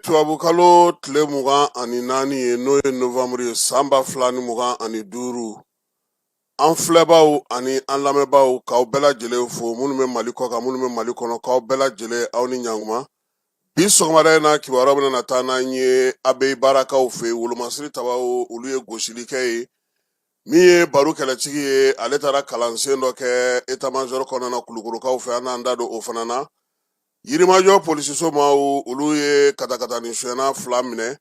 tubabukalo tile mugan ani naani ye n'o ye novanburu ye san ba fila ni mugan ani duuru an filɛbaaw ani an lamɛnbaaw k'aw bɛɛ lajɛlen fo minnu bɛ mali kɔkan minnu bɛ mali kɔnɔ k'aw bɛɛ lajɛlen aw ni ɲankuma Bi sɔgɔmada in na kibaruya bɛna na taa n'an ye Abeyibarakaw fɛ yen, Wolomasiri Tabaw olu ye gosili kɛ ye, min ye baro kɛlɛtigi ye, ale taara kalansen dɔ kɛ etamajɔri kɔnɔna na Kulukɔrɔkaw fɛ, an n'an da don o fana na. Yirimajɔ polisiso maaw olu ye katakatani sonyɛna fila minɛ,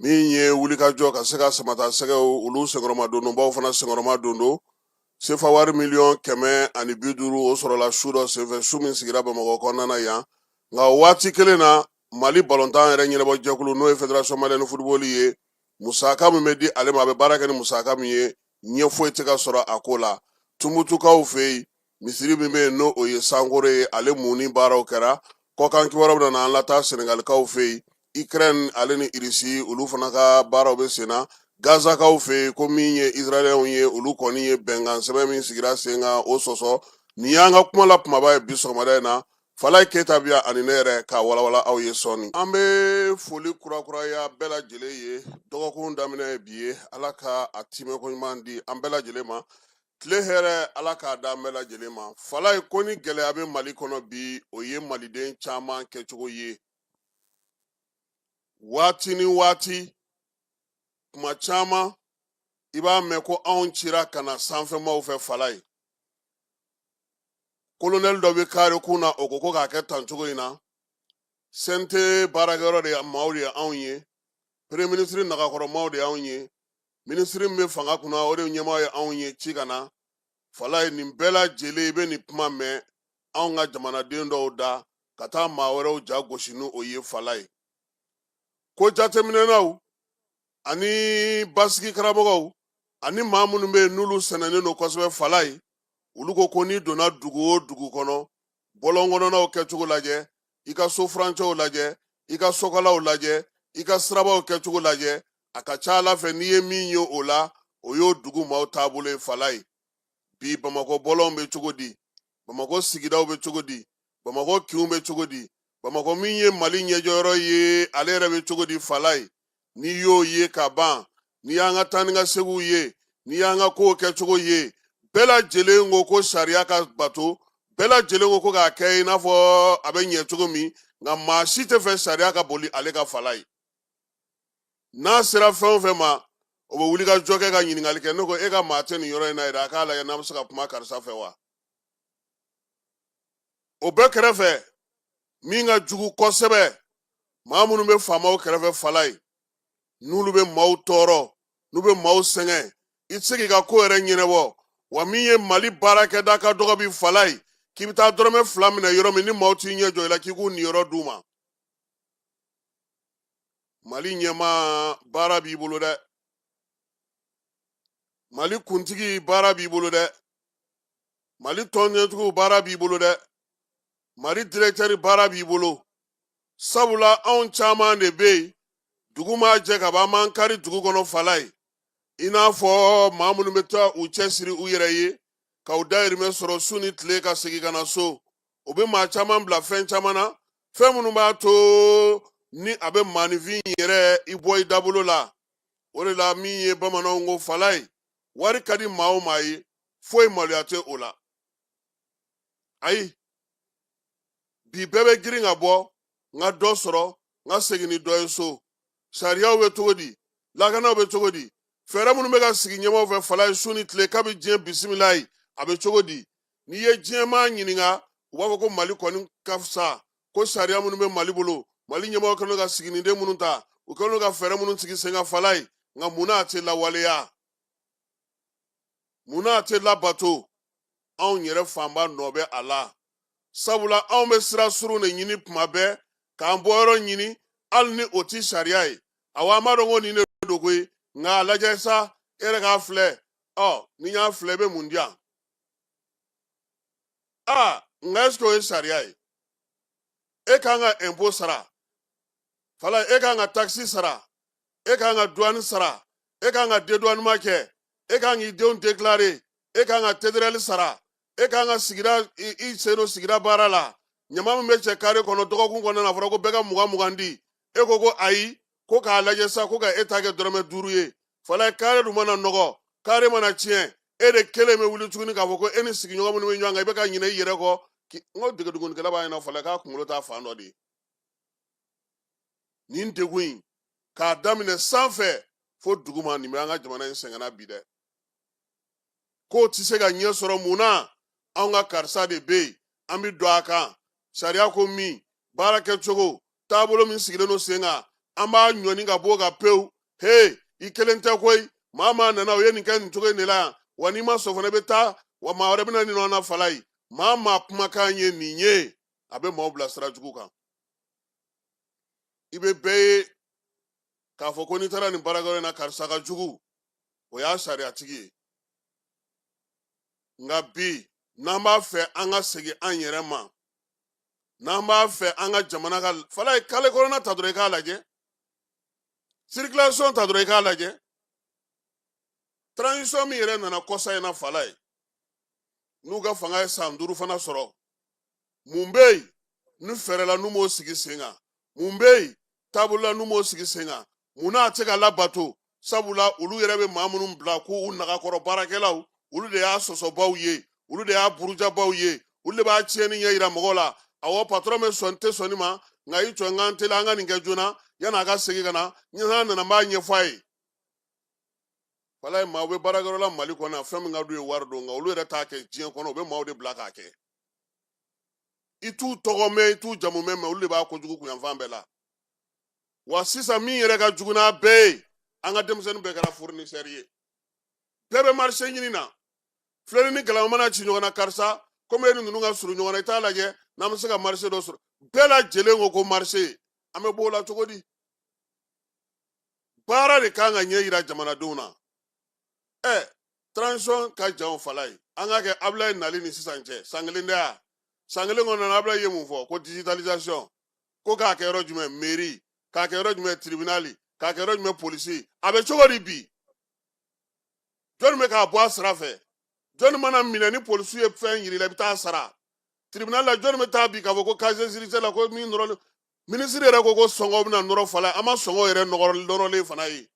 min ye wulikajɔ ka se ka samatasɛgɛw olu senkɔrɔma dondonbaw fana senkɔrɔma dondon, Sefa wari miliyɔn kɛmɛ ani bi duuru o sɔrɔla su dɔ senfɛ su min sigira bamakɔ kɔnɔna na yan nka waati kelen na mali balontan yɛrɛ ɲɛnabɔ jɛkulu n'o ye federation malienne football ye musaka min bɛ di ale ma a bɛ baara kɛ ni musaka min ye ɲɛ foyi tɛ ka sɔrɔ a ko la tumutukaw fɛ yen misiri min bɛ yen n'o ye sankore ye ale munni baaraw kɛra kɔkan kibaruyaw bɛna an lataa senegalikaw fɛ yen ikrɛni ale ni irisi olu fana ka baaraw bɛ sen na gazakaw fɛ yen ko min ye israɛliyɛnw ye olu kɔni ye bɛnkan sɛbɛn min sigira sen kan o sɔsɔ nin y'an ka kuma la kumaba ye bi sɔgɔmada in na falaye keyita bɛ yan ani ne yɛrɛ k'a walawala aw ye sɔɔni an bɛ foli kurakuraya bɛɛ lajɛlen ye dɔgɔkun daminɛ ye bi ye ala ka a timɛko ɲuman di an bɛɛ lajɛlen ma tile hɛrɛ ala k'a da an bɛɛ lajɛlen ma falaye ko ni gɛlɛya bɛ mali kɔnɔ bi o ye maliden caman kɛcogo ye waati ni waati kuma caman i b'a mɛn ko anw cira ka na sanfɛmaaw fɛ falaye kolonɛli dɔ bɛ kaare kun na o ko ko k'a kɛ tan cogo in na CNT baarakɛyɔrɔ de maaw de ye anw ye premier ministre nagakɔrɔ maaw de y'anw ye minisiri min bɛ fanga kunna o de ɲɛmaa ye anw ye ci ka na falaye nin bɛɛ lajɛlen i bɛ nin kuma mɛn anw ka jamanaden dɔw da ka taa maa wɛrɛw ja gosi ni o ye falaye ko jateminɛnaw ani basigi karamɔgɔw ani maa minnu bɛ yen n'olu sɛnɛnen don kosɛbɛ falaye olu ko ko n'i donna dugu o dugu kɔnɔ bɔlɔn kɔnɔnaw kɛcogo lajɛ i ka so furancɛw lajɛ i ka sokalaw lajɛ i ka sirabaw kɛcogo lajɛ a ka ca a la fɛn i ye min ye o la o y'o dugu maaw taabolo ye falaye bi bamakɔ bɔlɔnw bɛ cogo di bamakɔ sigidaw bɛ cogo di bamakɔ kinw bɛ cogo di bamakɔ min ye mali ɲɛjɔyɔrɔ ye ale yɛrɛ bɛ cogo di falaye n'i y'o ye ka ban n'i y'an ka taa ni ka seginw ye n'i y'an ka kow kɛcogo ye bɛɛ lajɛlen ko ko sariya ka bato bɛɛ lajɛlen ko ko k'a kɛ i n'a fɔ a bɛ ɲɛ cogo min nka maa si tɛ fɛ sariya ka boli ale kan falaye n'a sera fɛn o fɛn ma o bɛ wuli ka jɔ kɛ ka ɲininkali kɛ ne ko e ka maa tɛ nin yɔrɔ in na yɛrɛ a k'a lajɛ n'a bɛ se ka kuma karisa fɛ wa o bɛɛ kɛrɛfɛ min ka jugu kosɛbɛ maa minnu bɛ faamaw kɛrɛfɛ falaye n'olu bɛ maaw tɔɔrɔ n'u bɛ maaw sɛgɛn i tɛ se k'i ka ko yɛrɛ ɲɛnabɔ wa min ye mali baarakɛda ka dɔgɔ bi falaye k'i bɛ taa dɔrɔmɛ fila minɛ yɔrɔ min ni maaw t'i ɲɛ jɔ i la k'i k'u niyɔrɔ d'u ma mali ɲɛmaa baara b'i bolo dɛ mali kuntigi baara b'i bolo dɛ mali tɔnɲɛtigiw baara b'i bolo dɛ mali dirɛtɛri baara b'i bolo sabula anw caman de bɛ yen dugu ma jɛ ka ban an b'an kari dugu kɔnɔ falaye i n'a fɔ maa minnu bɛ taa u cɛ siri u yɛrɛ ye ka u dayirimɛ sɔrɔ su ni tile ka segin ka na so o bɛ maa caman bila fɛn caman na fɛn minnu b'a to ni a bɛ maaninfin yɛrɛ i bɔ i dabolo la o de la min ye bamananw ko falaye wari ka di maa o maa ye foyi maloya tɛ o la ayi bi bɛɛ bɛ girin ka bɔ n ka dɔ sɔrɔ n ka segin ni dɔ ye so sariyaw bɛ cogo di lakanaw bɛ cogo di fɛɛrɛ minnu bɛ ka sigi ɲɛmɔgɔw fɛ falaye su ni tile kabi diɲɛ bisimilayi a bɛ cogo di n'i ye diɲɛmaa ɲininka u b'a fɔ ko mali kɔni ka fisa ko sariya minnu bɛ mali bolo mali ɲɛmɔgɔw kɛlen ka siginiden minnu ta u kɛlen ka fɛɛrɛ minnu sigi sen kan falaye nka mun na a tɛ lawaleya mun na a tɛ labato anw yɛrɛ fanba nɔ bɛ a la sabula anw bɛ sira surun de ɲini tuma bɛɛ k'an bɔyɔrɔ ɲini hali ni o tɛ sariya ye awa an b'a dɔn ko nin de don koyi nka a lajɛ sa e yɛrɛ k'a filɛ ɔ n'i y'a filɛ i bɛ mun di yan a nka ɛseke o ye sariya ye e ka kan ka ɛnpo sara falaye e ka kan ka takisi sara e ka kan ka duwani sara e ka kan ka deduwanima kɛ e ka kan k'i denw deklare e ka kan ka tederɛli sara e ka kan ka sigida i sen don sigida baara la ɲama min bɛ cɛ kare kɔnɔ dɔgɔkun kɔnɔna na a fɔra ko bɛɛ ka mugan mugan di e ko ko ayi ko k'a lajɛ sa ko ka e ta kɛ dɔrɔmɛ duuru ye falaye kare dun mana nɔgɔ kare mana tiɲɛ e de kelen bɛ wuli tuguni k'a fɔ ko e ni sigiɲɔgɔn minnu bɛ ɲɔgɔn kan i bɛ ka ɲinɛ i yɛrɛ kɔ n ko degedugunikɛla b'a ɲɛna fala k'a kunkolo t'a fan dɔ de ye nin degun in k'a daminɛ sanfɛ fo duguma nin bɛ an ka jamana in sɛgɛnna bi dɛ k'o tɛ se ka ɲɛ sɔrɔ mun na anw ka karisa de bɛ yen an bɛ don a kan sariya ko min baara kɛcogo taabolo min sigilen don sen kan an b'a ɲɔni ka b'o kan pewu he i kelen tɛ koyi maa maa nana o ye nin kɛ nin cogo in de la yan wa n'i ma sɔn fana i bɛ taa wa maa wɛrɛ bɛna nin nɔ na walayi maa maa kumakan ye nin ye a bɛ maaw bila sira jugu kan i bɛ bɛɛ ye k'a fɔ ko n'i taara nin baarakɛyɔrɔ in na karisa ka jugu o y'a sariyatigi ye nka bi n'an b'a fɛ an ka segin an yɛrɛ ma n'an b'a fɛ an ka jamana ka walayi kale kɔnɔna ta dɔrɔn i k'a lajɛ circulation ta dɔrɔn i k'a lajɛ transition min yɛrɛ nana kɔsa in na walayi n'u ka fanga ye san duuru fana sɔrɔ mun bɛ yen ni fɛɛrɛ la n'u m'o sigi sen kan mun bɛ yen taabolo la n'u m'o sigi sen kan mun na a tɛ ka labato sabula olu yɛrɛ bɛ maa minnu bila ko u nagakɔrɔ baarakɛlaw olu de y'a sɔsɔbaw ye olu de y'a burujabaw ye olu de b'a tiɲɛni ɲɛ yira mɔgɔw la awɔ patɔrɔn bɛ sɔn tɛ sɔn nin ma nka i jɔ n ka n teliya n ka nin kɛ joona yanni a ka segin ka na n'a nana n b'a ɲɛfɔ a ye walayi maaw bɛ baarakɛyɔrɔ la mali kɔnɔ yan fɛn min ka d'u ye wari don nka olu yɛrɛ t'a kɛ diɲɛ kɔnɔ u bɛ maaw de bila k'a kɛ i t'u tɔgɔ mɛn i t'u jamu mɛn mɛ olu de b'a kojugu kun yanfan bɛɛ la wa sisan min yɛrɛ ka jugu n'a bɛɛ ye an ka denmisɛnnin bɛɛ kɛra fournisseur ye bɛɛ bɛ marché ɲini na filennin ni galama mana ci ɲɔgɔn na karisa komi e ni ninnu ka surun ɲɔgɔn na i t'a lajɛ n'an bɛ se ka marché dɔ sɔrɔ bɛɛ lajɛlen ko ko marché an bɛ b'o la cogo di baara de kan ka ɲɛ yira jamanadenw na ɛ transition ka jan o walayi an k'a kɛ abulayi nali ni sisan cɛ san kelen tɛ a san kelen kɔnɔna abulayi ye mun fɔ ko digitalisation ko k'a kɛ yɔrɔ jumɛn mairie k'a kɛ yɔrɔ jumɛn tribunal k'a kɛ yɔrɔ jumɛn polisi a bɛ cogo di bi jɔni bɛ k'a bɔ a sira fɛ jɔni mana minɛ ni polisi ye fɛn yir'i la i bɛ taa sara tribunal la jɔni bɛ taa bi k'a fɔ ko casier judiciaire la ko min nɔrɔlen minisiri yɛrɛ ko ko sɔngɔ bɛna nɔrɔ walayi an ma sɔngɔ yɛrɛ nɔrɔlen fana ye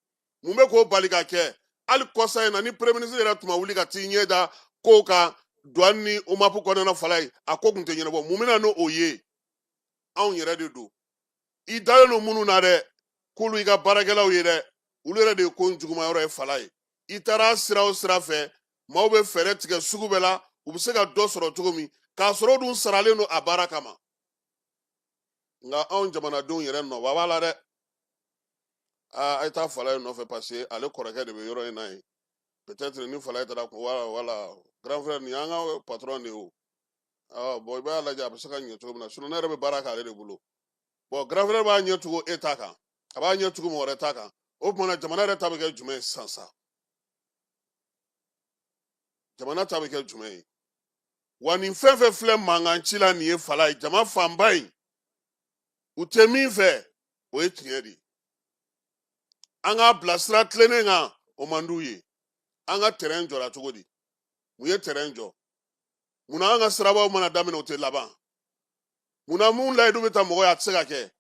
mun bɛ k'o bali ka kɛ hali kɔsa in na ni premier ministre yɛrɛ tun ma wuli ka t'i ɲɛ da kow kan douane ni omap kɔnɔna walayi a ko tun tɛ ɲɛnabɔ mun bɛna n'o ye anw yɛrɛ de don i dalen don minnu na dɛ k'olu i ka baarakɛlaw ye dɛ olu yɛrɛ de ye ko juguma yɔrɔ ye walayi i taara sira o sira fɛ maaw bɛ fɛɛrɛ tigɛ sugu bɛɛ la u bɛ se ka dɔ sɔrɔ cogo min k'a sɔrɔ dun saralen don a baara kama nka anw jamanadenw yɛrɛ nɔba b'a la dɛ aa a ye taa falayi nɔfɛ parce que ale kɔrɔkɛ de bɛ yɔrɔ in na yen peut-être ni falayi taara ko wala wala grand frère nin y'an ka patron de ye o aa bɔn i b'a lajɛ a bɛ se ka ɲɛ cogo min na sinon ne yɛrɛ bɛ baara k'ale de bolo bɔn grand frère b'a ɲɛ tugu e ta kan a b'a ɲɛ tugu mɔgɔ wɛrɛ ta kan o tuma na jamana yɛrɛ ta bɛ kɛ jumɛn ye sisan sa jamana ta bɛ kɛ jumɛn ye wa nin fɛn fɛn filɛ mankan ci la nin ye falayi jama fanba in u tɛ min fɛ o ye tiɲɛ de ye an k'a bila sira tilennen kan o man d'u ye an ka tɛrɛn jɔra cogo di mun ye tɛrɛn jɔ munna an ka sirabaw mana daminɛ o tɛ laban munna mun layidu bɛ ta mɔgɔ ye a tɛ se ka kɛ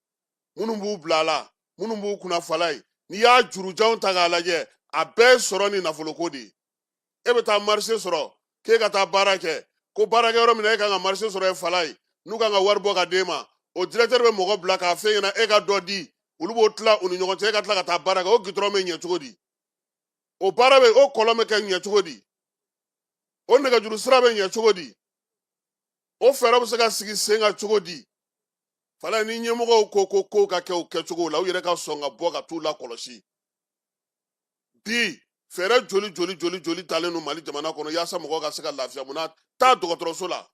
minnu b'u bila a la minnu b'u kunna falayi n'i y'a jurujanw ta k'a lajɛ a bɛɛ ye sɔrɔ ni nafoloko de ye e bɛ taa marché sɔrɔ k'e ka taa baara kɛ ko baarakɛyɔrɔ min na e ka kan ka marché sɔrɔ yen falayi n'u ka kan ka wari bɔ ka d'e ma o directeur bɛ mɔgɔ bila k'a f'e ɲɛna e ka dɔ di olu b'o tila u ni ɲɔgɔn cɛ e ka tila ka taa baara kɛ o gitɔrɔn bɛ ɲɛ cogo di o baara bɛ o kɔlɔn bɛ kɛ ɲɛ cogo di o nɛgɛjuru sira bɛ ɲɛ cogo di o fɛɛrɛ bɛ se ka sigi sen kan cogo di falayi ni ɲɛmɔgɔw ko ko kow ka kɛ u kɛcogow la u yɛrɛ ka sɔn ka bɔ ka t'u lakɔlɔsi bi fɛɛrɛ joli joli joli joli talen don mali jamana kɔnɔ yaasa mɔgɔ ka se ka lafiya munna taa dɔgɔtɔrɔso la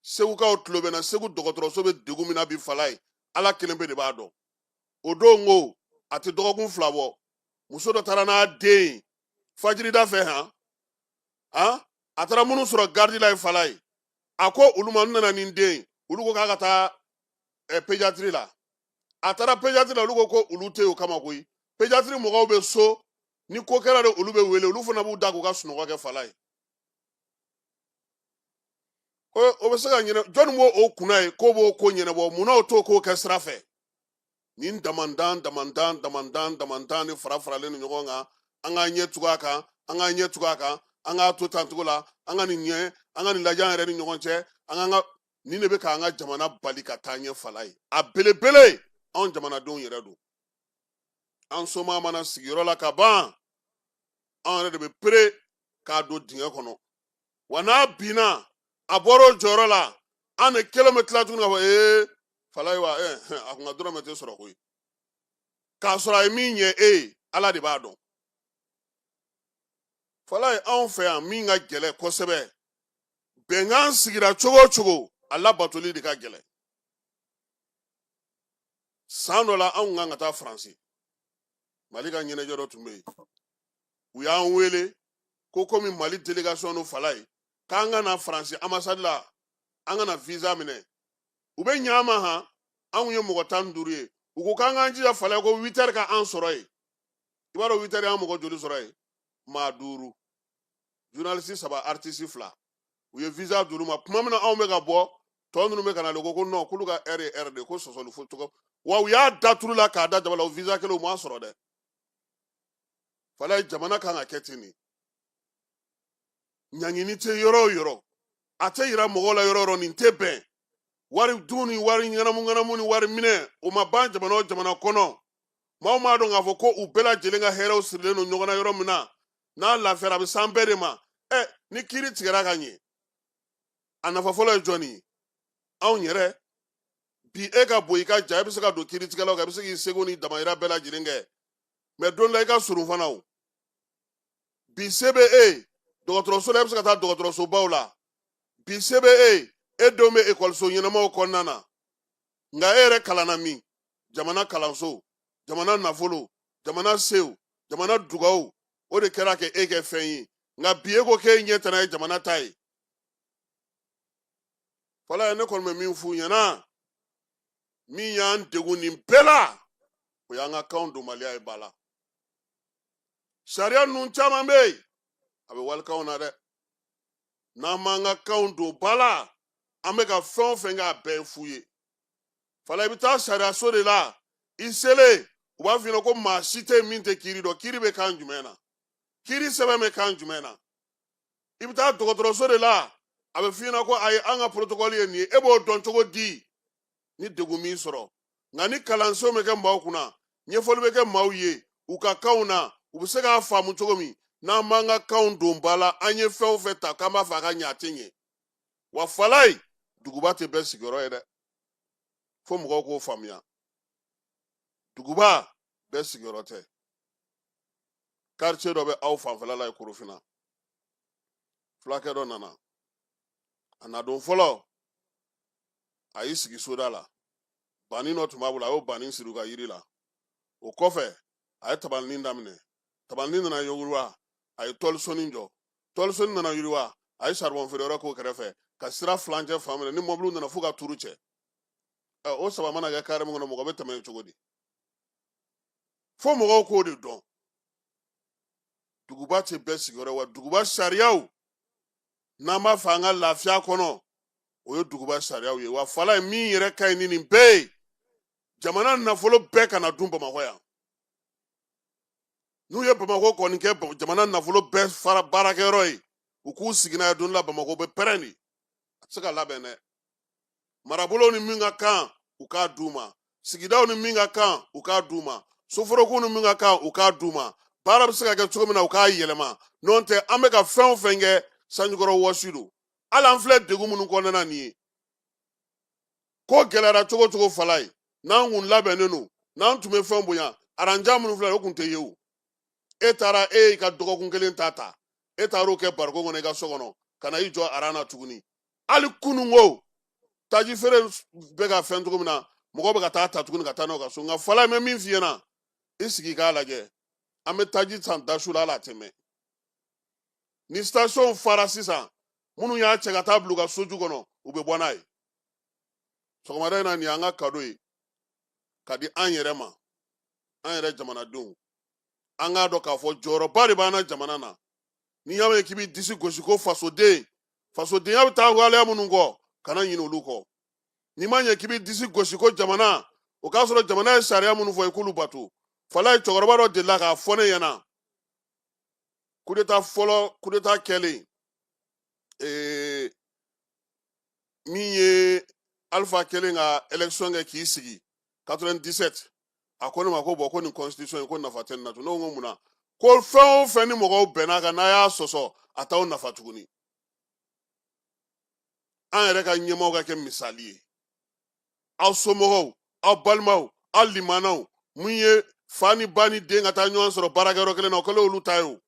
segukaw tulo bɛ n na segu dɔgɔtɔrɔso bɛ degun min na bi falayi ala kelenpe de b'a dɔn o don ko a tɛ dɔgɔkun fila bɔ muso dɔ taara n'a den ye fajirida fɛ han han a taara minnu sɔrɔ garidi la yen falayi a ko olu ma n nana ni den ye olu ko k'a ka taa eh, pédiatrie la a taara pédiatrie la olu ko ko olu tɛ o kama koyi pédiatrie mɔgɔw bɛ so ni ko kɛra de olu bɛ wele olu fana b'u da k'u ka sunɔgɔ kɛ falayi o bɛ se ka ɲɛna jɔnni b'o kunna ye k'o b'o ko ɲɛnabɔ munna o t'o ko kɛ sira fɛ nin damandan damandan damandan damandan ni fara faralen don ɲɔgɔn kan an k'an ɲɛ tugu a kan an k'an ɲɛ tugu a kan an k'a to tan cogo la an ka nin ɲɛ an ka nin lajɛ an yɛrɛ ni ɲɔgɔn cɛ an k'an ka nin de bɛ k'an ka jamana bali ka taa ɲɛ falayi a belebele anw jamanadenw yɛrɛ don an somaa mana sigi yɔrɔ la ka ban anw yɛrɛ de bɛ pere k'a don dingɛ kɔnɔ wa n'a binna a bɔra o jɔyɔrɔ la an de kelen bɛ tila tuguni ka fɔ ee falayi wa eh, eh, a kun ka dɔrɔmɛ tɛ sɔrɔ koyi k'a sɔrɔ a ye min ɲɛ e ye ala de b'a dɔn falayi anw fɛ yan min ka gɛlɛn kosɛbɛ bɛnkan sigira cogo o cogo a labatoli de ka gɛlɛn san dɔ la anw kan ka taa faransi mali ka ɲɛnajɛ dɔ tun bɛ yen u y'an wele ko komi mali delegation don fala ye k'an ka na faransi ambassade la an ka na visa minɛ u bɛ ɲɛ an ma han anw ye mɔgɔ tan ni duuru ye u ko k'an k'an jija fala ye ko huit heures ka an sɔrɔ yen i b'a dɔn huit heures y'an mɔgɔ joli sɔrɔ yen maa duuru journaliste saba artiste fila u ye visa d'olu ma tuma min na anw bɛ ka bɔ tɔ ninnu bɛ ka na de ko ko non k'olu ka heure ye heure de ko sɔsɔli fo cogo wa u y'a da turu la k'a da jaba la o visa kelen u m'a sɔrɔ dɛ fala ye jamana kan ka kɛ ten de ɲangini tɛ yɔrɔ o yɔrɔ a tɛ yira mɔgɔw la yɔrɔ o yɔrɔ nin tɛ bɛn wari dun ni wari ŋanamuŋanamu ni wari minɛ o ma ban jamana o jamana kɔnɔ maaw m'a dɔn k'a fɔ ko u bɛɛ lajɛlen ka hɛrɛw sirilen don ɲɔgɔn na yɔrɔ min na n'a lafiyara a bɛ s'an bɛɛ de ma ɛ ni kiiri tigɛra ka ɲɛ a nafa fɔlɔ ye jɔnni ye anw yɛrɛ bi e ka bon i ka jan i bɛ se ka don kiiritigɛlaw kan i bɛ se k'i seko ni damayira bɛɛ lajɛlen kɛ mɛ don la i ka surun fana o bi se bɛ e ye dɔgɔtɔrɔso la e bɛ se ka taa dɔgɔtɔrɔsobaw la bi se bɛ e ye e denw bɛ ekɔliso ɲɛnamaw kɔnɔna na nka e yɛrɛ kalanna min jamana kalanso jamana nafolo jamana sew jamana dugawu o de kɛra k'e kɛ fɛn ye nka bi e ko k'e ɲɛ tɛna ye jamana ta ye fala ye ne kɔni bɛ min f'u ɲɛna min y'an degun nin bɛɛ la o y'an ka kanw donbaliya ye ba la sariya ninnu caman bɛ yen a bɛ walikanw na dɛ n'an m'an ka kanw don ba la an bɛ ka fɛn o fɛn kɛ a bɛɛ ye fu ye fala i bɛ taa sariyaso de la i selen u b'a f'i ɲɛna ko maa si tɛ min tɛ kiiri dɔn kiiri bɛ kan jumɛn na kiiri sɛbɛn bɛ kan jumɛn na i bɛ taa dɔgɔtɔrɔso de la a bɛ f'i ɲɛna ko ayi an ka porotokɔli ye nin ye e b'o dɔn cogo di ni degun m'i sɔrɔ nka ni kalansenw bɛ kɛ maaw kunna ɲɛfɔli bɛ kɛ maaw ye u ka kanw na u bɛ se k'a faamu cogo min n'an m'an ka kanw don ba la an ye fɛn o fɛn ta k'an b'a fɛ a ka ɲɛ a tɛ ɲɛ wa fala ye duguba tɛ bɛɛ sigiyɔrɔ ye dɛ fo mɔgɔw k'o faamuya duguba bɛɛ sigiyɔrɔ tɛ quartier dɔ bɛ aw fanfɛla la ye korofina fulakɛ dɔ nana a na don fɔlɔ a y'i sigi soda la banin dɔ tun b'a bolo a y'o banin siri u ka yiri la o kɔfɛ a ye tabalinin daminɛ tabalinin nana yiriwa a ye tɔlisonin jɔ tɔlisonin nana yiriwa a ye saribɔn feere yɔrɔ k'o kɛrɛfɛ ka sira filancɛ fan minɛ ni mɔbiliw nana fo ka turu cɛ o saba mana kɛ kare min kɔnɔ mɔgɔ bɛ tɛmɛ yen cogo di fo mɔgɔw k'o de dɔn duguba tɛ bɛɛ sigiyɔrɔ wa duguba sariyaw n'an b'a fɛ an ka lafiya kɔnɔ o ye duguba sariyaw ye wa falayi min yɛrɛ ka ɲi ni nin bɛɛ ye jamana nafolo bɛɛ kana dun bamakɔ yan n'u ye bamakɔ kɔni kɛ jamana nafolo bɛɛ fara baarakɛyɔrɔ ye u k'u sigi n'a ye don la bamakɔ bɛ pɛrɛn de a tɛ se ka labɛn dɛ marabolow ni min ka kan u k'a d'u ma sigidaw ni min ka kan u k'a d'u ma soforokun ni min ka kan u k'a d'u ma baara bɛ se ka kɛ cogo min na u k'a yɛlɛma n'o tɛ an bɛ ka fɛn o fɛn kɛ sanjikɔrɔwɔsi don hali an filɛ degun minnu kɔnɔna nin ye ko gɛlɛyara cogo cogo falayi n'an kun labɛnnen don n'an tun bɛ fɛn bonya aran jan minnu filɛ o kun tɛ ye o e taara e y'i ka dɔgɔkun kelen ta ta e taar'o kɛ bariko kɔnɔ i ka so kɔnɔ ka na i jɔ aran na tuguni hali kunun ko taji feere bɛ ka fɛn cogo min na mɔgɔ bɛ ka taa ta tuguni ka taa n'o ka so nka falayi n bɛ min f'i ɲɛna i sigi k'a lajɛ an bɛ taji san dasu la hali a tɛ mɛn ni station fara sisan minnu y'a cɛ ka taa bila u ka soju kɔnɔ u bɛ bɔ n'a ye sɔgɔmada in na nin y'an ka kado ye ka di an yɛrɛ ma an yɛrɛ jamanadenw an k'a dɔn k'a fɔ jɔyɔrɔba de b'an na jamana na n'i y'a mɛn k'i bɛ disi gosi ko fasoden fasodenya bɛ taa waleya minnu kɔ kana ɲinɛ olu kɔ n'i ma ɲɛ k'i bɛ disi gosi ko jamana o k'a sɔrɔ jamana ye sariya minnu fɔ i k'olu bato falayi cɛkɔrɔba dɔ delila k'a fɔ ne ɲɛna kudeta fɔlɔ kudeta kɛlen ee min ye alifa kɛlen ka élection kɛ k'i sigi 97 a ko ne ma ko bon ko nin constitution in ko nafa tɛ nin na tun ne ko mun na ko fɛn o fɛn ni mɔgɔw bɛnna kan n'a y'a sɔsɔ a t'aw nafa tuguni an yɛrɛ ka ɲɛmaaw ka kɛ misali ye aw somɔgɔw aw balimaw aw limanaw min ye fa ni ba ni den ka taa ɲɔgɔn sɔrɔ baarakɛyɔrɔ kelen na o kɛlen olu ta ye o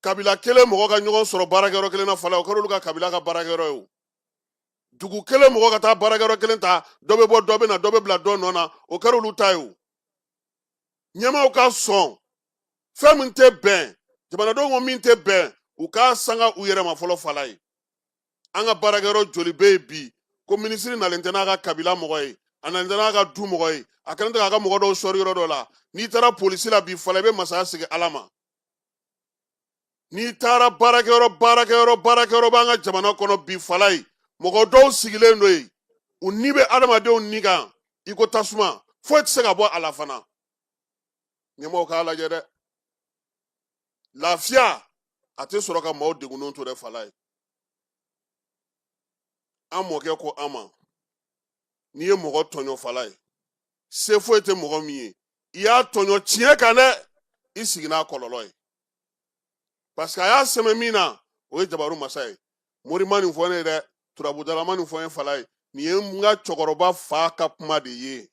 kabila kelen mɔgɔ ka ɲɔgɔn sɔrɔ baarakɛyɔrɔ kelen na fala o kɛra olu ka kabila ka baarakɛyɔrɔ ye o dugu kelen mɔgɔ ka taa baarakɛyɔrɔ kelen ta dɔ bɛ bɔ dɔ bɛ na dɔ bɛ bila dɔ nɔ na o kɛra olu ta ye o ɲɛmaaw ka sɔn fɛn min tɛ bɛn jamanadenw ko min tɛ bɛn u k'a sanga u yɛrɛ ma fɔlɔ falayi an ka baarakɛyɔrɔ joli bɛ yen bi ko minisiri nalen tɛ n'a ka kabila mɔgɔ ye a nalen tɛ n'a ka du mɔgɔ ye a kɛlen tɛ k'a ka mɔgɔ dɔw sɔri yɔrɔ dɔ la n'i taara polisi la bi fala i bɛ masaya segin ala ma n'i taara baarakɛyɔrɔ baarakɛyɔrɔ baarakɛyɔrɔ b'an ka jamana kɔnɔ bi fala ye mɔgɔ dɔw sigilen don yen u ni bɛ adamadenw ni kan i ko tasuma foyi tɛ se ka bɔ a la fana ɲɛmɔgɔw k'a lajɛ dɛ lafiya a tɛ sɔrɔ ka maaw degunnenw to dɛ fala ye an mɔkɛ ko an ma n'i ye mɔgɔ tɔɲɔ fala ye se foyi tɛ mɔgɔ min ye i y'a tɔɲɔ tiɲɛ kan dɛ i sigi n'a kɔlɔlɔ ye parce que a y'a sɛmɛ min na o ye jabaru masa ye mori ma nin fɔ ne ye dɛ turabudala ma nin fɔ ye fala ye nin ye n ka cɛkɔrɔba fa ka kuma de ye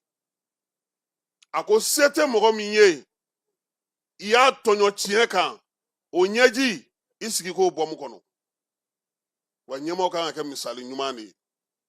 a ko se tɛ mɔgɔ min ye i y'a tɔɲɔ tiɲɛ kan o ɲɛji i sigi k'o bɔ makɔnɔ wa ɲɛmɔgɔ kan ka kɛ misali ɲuman de ye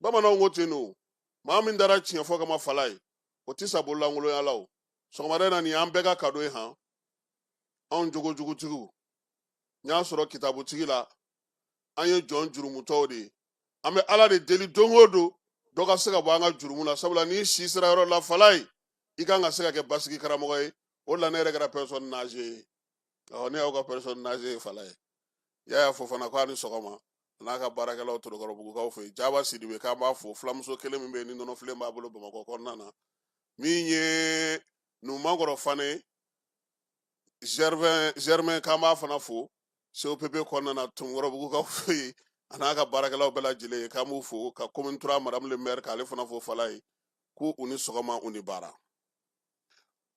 bamananw ko ten ni maa min dara tiɲɛ fɔ kama fala ye o tɛ sa bololankolonya la o sɔgɔmada in na nin y'an bɛɛ ka kado ye han anw jogojugutigiw n y'a sɔrɔ kitabutigi la an ye jɔn jurumutɔw de ye an bɛ ala de deli don o don dɔ ka se ka bɔ an ka jurumu la sabula n'i si sera yɔrɔ la fala ye i kan ka se ka kɛ basigi karamɔgɔ ye o la ne yɛrɛ kɛra personne âgée ye ɔ ne y'aw ka personne âgée ye fala ye yaya fofana ko a ni sɔgɔma n'a ka baarakɛlaw torokɔrɔbugukaw fɛ yen jaba sidibe k'an b'a fo fulamuso kelen min bɛ yen ni nɔnɔfilen b'a bolo bamakɔ kɔnɔna na min ye numankɔrɔ fane germain germain k'an b'a fana fo copp kɔnɔna na torokɔrɔbugukaw fɛ yen a n'a ka baarakɛlaw bɛɛ lajɛlen ye k'an b'u fo ka commune trois madamu le maire k'ale fana fo fala ye ko u ni sɔgɔma u ni baara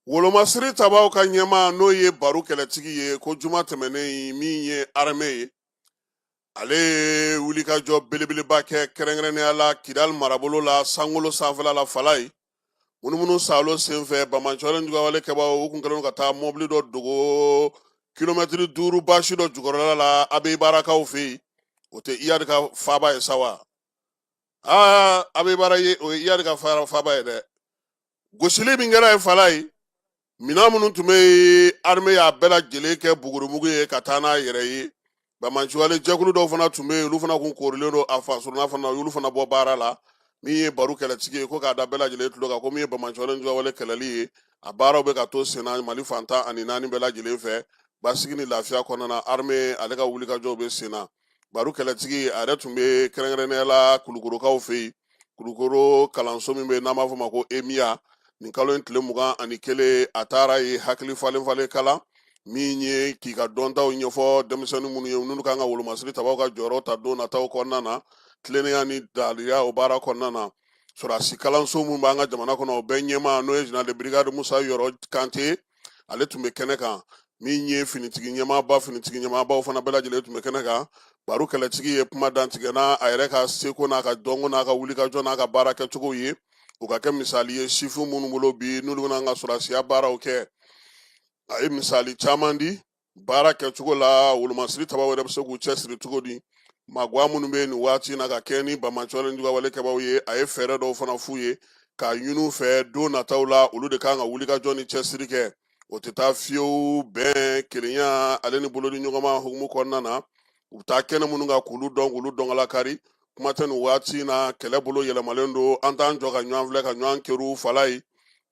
Wolomasiri tabaw ka ɲɛmaa n'o ye baru kɛlɛtigi ye ko juma tɛmɛnen min ye arme ye ale ye wulikajɔ belebeleba kɛ kɛrɛnkɛrɛnnenya la kidali marabolo la sankolo sanfɛla la fala ye munumunu saalo senfɛ banbaganciwale juguwale kɛbaaw u tun kɛlen ka taa mɔbili dɔ dogo kilomɛtiri duuru basi dɔ jukɔrɔla la abeyibarakaw fɛ yen o tɛ iyadi ka faba ye sa wa aa abeyibara ye o ye iyadi ka faba ye dɛ gosili min kɛra ye fala ye minɛn minnu tun bɛ arme y'a bɛɛ lajɛlen kɛ bugurumugu ye ka taa n'a yɛrɛ ye banbaganciwale jɛkulu dɔw fana tun bɛ yen olu fana tun koorilen don a fasuruna fana y'olu fana bɔ baara la min ye baru kɛlɛtigi ye ko k'a da bɛɛ lajɛlen tulo kan ko min ye banbaganciwale juguwale kɛlɛli ye a baaraw bɛ ka to senna mali fan tan ani naani bɛɛ lajɛlen fɛ basigi ni lafiya kɔnɔna na arme ale ka wulikajɔw bɛ senna baru kɛlɛtigi a yɛrɛ tun bɛ kɛrɛnkɛrɛnnenya la kulukorokaw fɛ yen kulukoro kalanso min bɛ yen n'an b'a fɔ o ma ko emiya nin kalo in tile mugan ani kelen a taara ye hakili falen falen kalan min ye k'i ka dɔntaw ɲɛfɔ denmisɛnnin minnu ye minnu kan ka wolomasiri tabaw ka jɔyɔrɔ ta don nataw kɔnɔna na tilennenya ni daliya o baara kɔnɔna na sɔrɔdasi kalanso minnu b'an ka jamana kɔnɔ o bɛɛ ɲɛmaa n'o ye général de brigade Musa Yɔrɔ Kante ale tun bɛ kɛnɛ kan min ye finitigi ɲɛmaaba finitigi ɲɛmaabaw fana bɛɛ lajɛlen tun bɛ kɛnɛ kan Baru kɛlɛtigi ye kuma dantigɛ n'a a yɛrɛ ka seko n'a ka dɔnko n'a ka wulikajɔ n'a ka baara kɛcogo ye o ka kɛ misali ye sifin minnu bolo bi n'olu bɛna an ka sɔrɔsiya baaraw kɛ a ye misali caman di baara kɛcogo la wolomasiri tabaw yɛrɛ bɛ se k'u cɛsiri cogo di magoya minnu bɛ nin waati in na ka kɛ ni bamacɔlen jugawale kɛbaw ye a ye fɛɛrɛ dɔw fana f'u ye k'a ɲin'u fɛ don nataw la olu de kan ka wulikajɔ ni cɛsiri kɛ o tɛ taa fiyewu bɛn kelenya ale ni bolodiɲɔgɔnma hukumu kɔnɔna na u bɛ taa kɛnɛ minnu kan k'olu dɔn k'olu dɔnkala kari kuma tɛ nin waati na kɛlɛ bolo yɛlɛmalen don an t'an jɔ ka ɲɔgɔn filɛ ka ɲɔgɔn kɛrun fala ye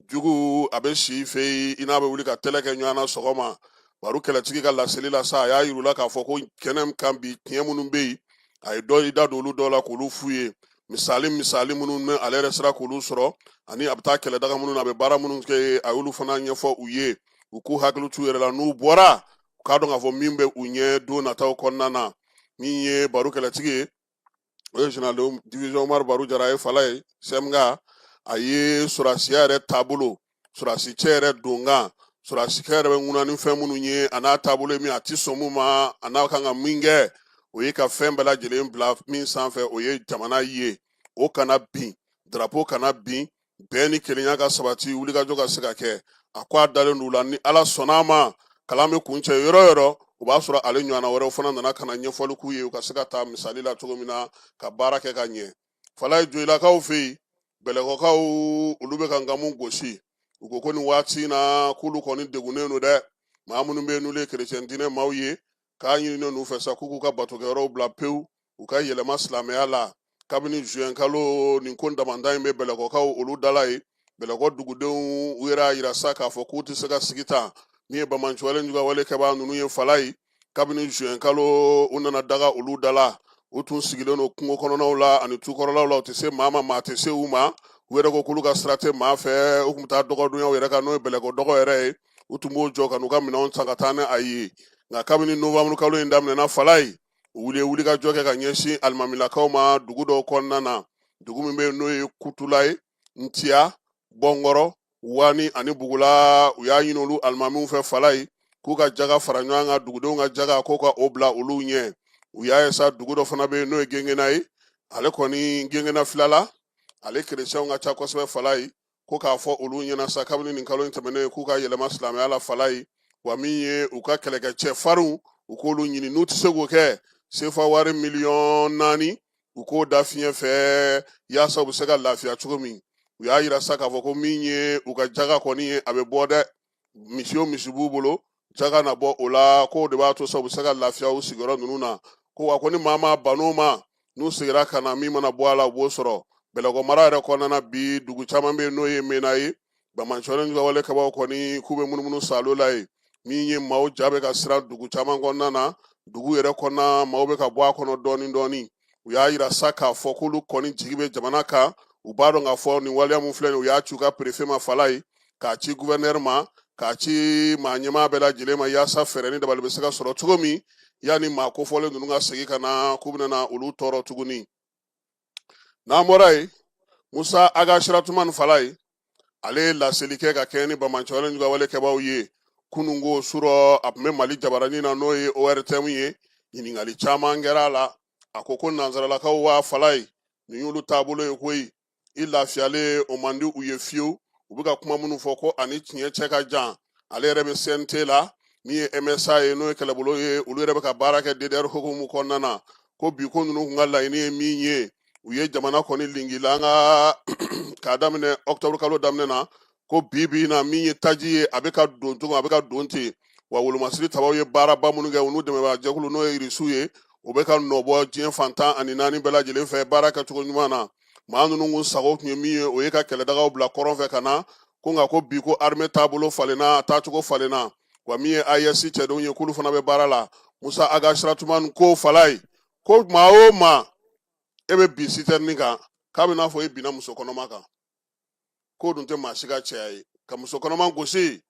jugu a bɛ si fɛ yen i n'a bɛ wuli ka tɛlɛ kɛ ɲɔgɔn na sɔgɔma Baru kɛlɛtigi ka laseli la sa a y'a yir'u la k'a fɔ ko kɛnɛ kan bi tiɲɛ minnu bɛ yen a ye dɔ i da don olu dɔw la k'olu f'u ye misali misali minnu ni ale yɛrɛ sera k'olu sɔrɔ ani a bɛ taa kɛlɛdaga minnu na a bɛ baara minnu kɛ a y'olu fana ɲɛfɔ u ye u k'u hakili t'u yɛrɛ la n'u bɔra u k'a dɔn k'a fɔ min bɛ u ɲɛ don nataw kɔnɔna na min ye Baru kɛlɛtigi ye o ye général de division Umaru Baru Jara ye fala ye CEMGA a ye sɔrɔdasiya yɛrɛ taabolo sɔrɔdasicɛ yɛrɛ donkan sɔrɔdasikɛ yɛrɛ bɛ ŋuna ni fɛn minnu ye a n'a taabolo ye min a tɛ sɔn mun ma a n'a kan ka min kɛ o ye ka fɛn bɛɛ lajɛlen bila min sanfɛ o ye jamana ye o kana bin drapeau kana bin bɛn ni kelenya ka sabati wulikajɔ ka se ka kɛ a ko a dalen don u la ni ala sɔnna a ma kalan bɛ kuncɛ yɔrɔ o yɔrɔ o b'a sɔrɔ ale ɲɔgɔnna wɛrɛw fana nana ka na ɲɛfɔli k'u ye u ka se ka taa misali la cogo min na ka baara kɛ ka ɲɛ fala ye joyilakaw fɛ yen bɛlɛkɔkaw olu bɛ ka nkamu gosi u ko ko nin waati in na k'olu kɔni degunnen don dɛ maa minnu bɛ yen n'olu ye kerecɛn diinɛ maaw ye k'a ɲininen n'u fɛ sa k'u k'u ka batokɛyɔrɔw bila pewu u ka yɛlɛma silamɛya la kabini juin kalo nin ko damanda in bɛ bɛlɛkɔkaw olu da la yen bɛlɛkɔ dugudenw u yɛrɛ y'a yira sa k'a fɔ k'u tɛ se ka sigi tan min ye bamancɔlen jugawale kɛbaa ninnu ye fala ye kabini juin kalo u nana daga olu da la u tun sigilen don kungo kɔnɔnaw la ani tukɔrɔlaw la u tɛ se maa ma maa tɛ se u ma u yɛrɛ ko k'olu ka sira tɛ maa fɛ u tun bɛ taa dɔgɔdonyaw yɛrɛ kan n'o ye bɛlɛkɔ dɔgɔ yɛrɛ ye u tun b'o jɔ ka n'u ka minɛnw san ka taa ni a ye nka kabini nowanburu kalo in daminɛna fala ye u wuli ye wulikajɔ kɛ ka ɲɛsin alimamilakaw ma dugu dɔw kɔnɔna na dugu min bɛ yen n'o ye kutula ye ntiya bɔnkɔrɔ wani ani bugula u y'a ɲini olu alimamiw fɛ fala ye k'u ka jaga fara ɲɔgɔn kan dugudenw ka jaga k'u ka o bila olu ɲɛ u y'a ye sa dugu dɔ fana bɛ yen n'o ye gengena ye ale kɔni gengena filala ale kerecɛnw ka ca kosɛbɛ fala ye ko k'a fɔ olu ɲɛ na sa kabini nin kalo in tɛmɛnen ye k'u ka yɛlɛma silamɛya la fala ye wa min ye u ka kɛlɛkɛcɛ farinw u k'olu ɲini n'u tɛ se k'o kɛ sefa wari miliyɔn naani u k'o da fiɲɛ fɛ yaasa u bɛ se ka lafiya cogo min u y'a yira sa k'a fɔ ko min ye u ka jaga kɔni ye a bɛ bɔ dɛ misi o misi b'u bolo jaga na bɔ o la k'o de b'a to sa u bɛ se ka lafiya u sigiyɔrɔ ninnu na ko wa ko ni maa ma ban'o ma n'u segira ka na min mana bɔ a la u b'o sɔrɔ bɛlɛkɔ mara yɛrɛ kɔnɔna bi dugu caman bɛ yen n'o ye mena ye banbaanci walejuguya wale kɛbaaw kɔni k'u bɛ munumunu salo la ye min ye maaw ja bɛ ka siran dugu caman kɔnɔna na dugu yɛrɛ kɔnɔna maaw bɛ ka bɔ a kɔnɔ dɔɔni dɔɔni u y'a yira sa k'a fɔ k'olu kɔni jigi bɛ jamana kan u b'a dɔn k'a fɔ nin waleya min filɛ nin u y'a ci u ka perefe ma fala ye k'a ci guvɛrnɛri ma k'a ci maa ɲɛmaa bɛɛ lajɛlen ma yaasa fɛɛrɛ ni dabali bɛ se ka sɔrɔ cogo min yanni maa kofɔlen ninnu ka segin ka na k'u bɛna olu tɔɔrɔ tuguni n'an bɔra yen musa ag asiratuman fala ye ale ye laseli kɛ ka kɛɲɛ ni banbaanci walejuguya wale kɛbaaw ye kununko surɔ a tun bɛ mali jabaranin na n'o ye ortm ye ɲininkali caman kɛra a la a ko ko nansaralakaw waa fala ye nin y'olu taabolo ye koyi i lafiyalen o man di u ye fiyewu u bɛ ka kuma minnu fɔ ko ani tiɲɛ cɛ ka jan ale yɛrɛ bɛ cnt la min ye msa ye n'o ye kɛlɛbolo ye olu yɛrɛ bɛ ka baara kɛ ddr hukumu kɔnɔna na ko bi ko ninnu kun ka laɲini ye min ye u ye jamana kɔni lingila nka k'a daminɛ ɔkutɔburu kalo daminɛ na ko bi bi na min ye taji ye a bɛ ka don cogo a bɛ ka don ten wa wolomasiri tabaw ye baaraba minnu kɛ u n'u dɛmɛbaa jɛkulu n'o ye irisiw ye o bɛ ka nɔ bɔ diɲɛ fan tan ani naani bɛɛ lajɛlen fɛ baara kɛcogo ɲuman na maa ninnu kun sago tun ye min ye o ye ka kɛlɛdagaw bila kɔrɔn fɛ ka na ko nka ko bi ko arime taabolo falenna a taacogo falenna wa min ye ayɛsi cɛdenw ye k'olu fana bɛ baara la musa ag asiratuman ko fala ye ko maa o maa e bɛ bin sitɛrɛni kan k'a bɛ n'a fɔ e binna muso kɔnɔma kan k'o dun tɛ maa si ka cɛya ye ka muso kɔnɔma gosi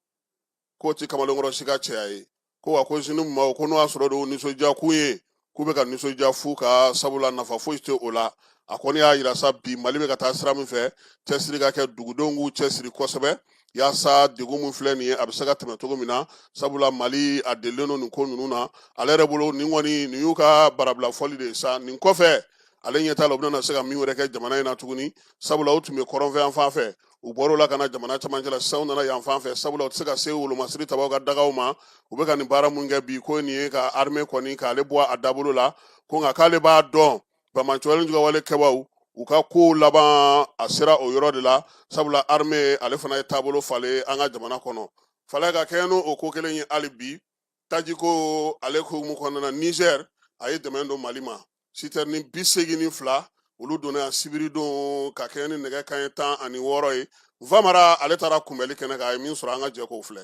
k'o tɛ kamalenkɔrɔ si ka cɛya ye ko wa ko sini maaw ko n'o y'a sɔrɔ de o nisɔndiya kun ye k'u bɛ ka nisɔndiya fu ka sabula nafa foyi tɛ o la a kɔni y'a yira sa bi mali bɛ ka taa sira min fɛ cɛsiri ka kɛ dugudenw k'u cɛsiri kosɛbɛ yaasa degun min filɛ nin ye a bɛ se ka tɛmɛ cogo min na sabula mali a delilen don nin ko ninnu na ale yɛrɛ bolo nin kɔni nin y'u ka barabila fɔli de ye sa nin kɔfɛ ale ɲɛ t'a la u bɛna se ka min wɛrɛ kɛ jamana in na tuguni sabula u tun bɛ kɔrɔnfɛ yan fan fɛ u bɔr'o la ka na jamana camancɛ la sisan u nana yan fan fɛ sabula u tɛ se ka se wolomasiri tabaw ka dagaw ma u bɛ ka nin baara mun kɛ bi ko nin ye ka arime kɔni k'ale bɔ a dabolo la ko nka k'ale b'a dɔn banbaanci walejuguya wale kɛbaaw u ka kow laban a sera o yɔrɔ de la sabula arime ale fana ye taabolo falen an ka jamana kɔnɔ fala ka kɛɲɛ n'o ko kelen ye hali bi tajiko ale hukumu kɔnɔna na nizɛr a ye dɛmɛ don mali ma sitɛrɛni bi segin ni fila olu donna yan sibiridon ka kɛɲɛ ni nɛgɛ kanɲɛ tan ani wɔɔrɔ ye vamara ale taara kunbɛnli kɛnɛ kan a ye min sɔrɔ an ka jɛ k'o filɛ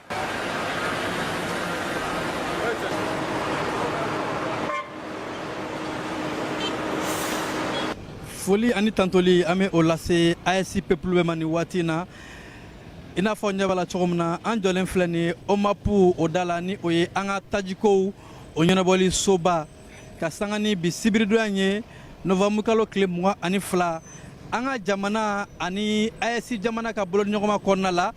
foli ani tantoli an bɛ o lase AES pepulu bɛɛ ma nin waati in na i n'a fɔ ɲɛ b'a la cogo min na an jɔlen filɛ nin ye OMAPU o da la ni o ye an ka tajikow o ɲɛnabɔli soba ka sanga ni bi sibiridonya ye nɔvamuru kalo tile mugan ani fila an ka jamana ani AES jamana ka bolodiɲɔgɔnma kɔnɔna la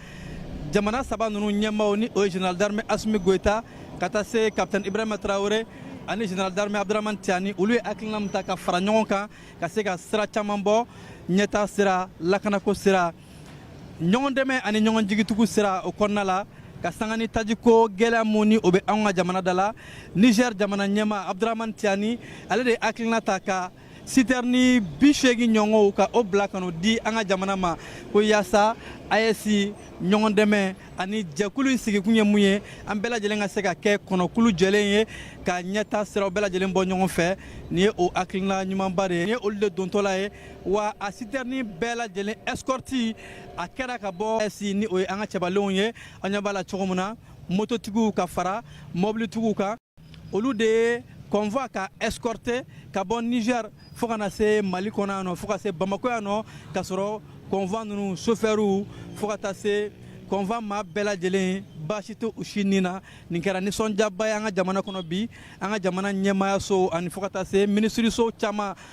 jamana saba ninnu ɲɛmaaw ni o ye general d'armée asimi goyita ka taa se capitaine ibrahima tarawele ani general d'armée abdurahmane tiani olu ye hakilina min ta ka fara ɲɔgɔn kan ka se ka sira caman bɔ ɲɛtaa sira lakanako sira ɲɔgɔn dɛmɛ ani ɲɔgɔn jigitugu sira o kɔnɔna la ka sanga ni tajiko gɛlɛya mun ni o bɛ anw ka jamana da la niger jamana ɲɛmaa abdurahamani tiani ale de ye hakilina ta ka sitɛrini bi seegin ɲɔgɔnw ka o bila ka n'o di an ka jamana ma ko yaasa AES ɲɔgɔn dɛmɛ ani jɛkulu in sigikun ye mun ye an bɛɛ lajɛlen ka se ka kɛ kɔnɔkulu jɛlen ye ka ɲɛtaa siraw bɛɛ lajɛlen bɔ ɲɔgɔn fɛ nin ye o hakilina ɲumanba de ye nin ye olu de dontɔla ye wa a sitɛrini bɛɛ lajɛlen ɛsikɔriti a kɛra ka bɔ AES ni o ye an ka cɛbalenw ye an ɲɛ b'a la cogo min na mototigiw ka fara mɔbilitigiw kan olu de ye convoi ka ɛsikɔrite ka bɔ nizɛri fo ka na se mali kɔnɔ yan nɔ fo ka se bamako yan nɔ ka sɔrɔ convoi ninnu sofɛriw fo ka taa se convoi maa bɛɛ lajɛlen baasi tɛ u si ni na nin kɛra nisɔndiyaba ye an ka jamana kɔnɔ bi an ka jamana ɲɛmaayaso ani fo ka taa se minisiriso caman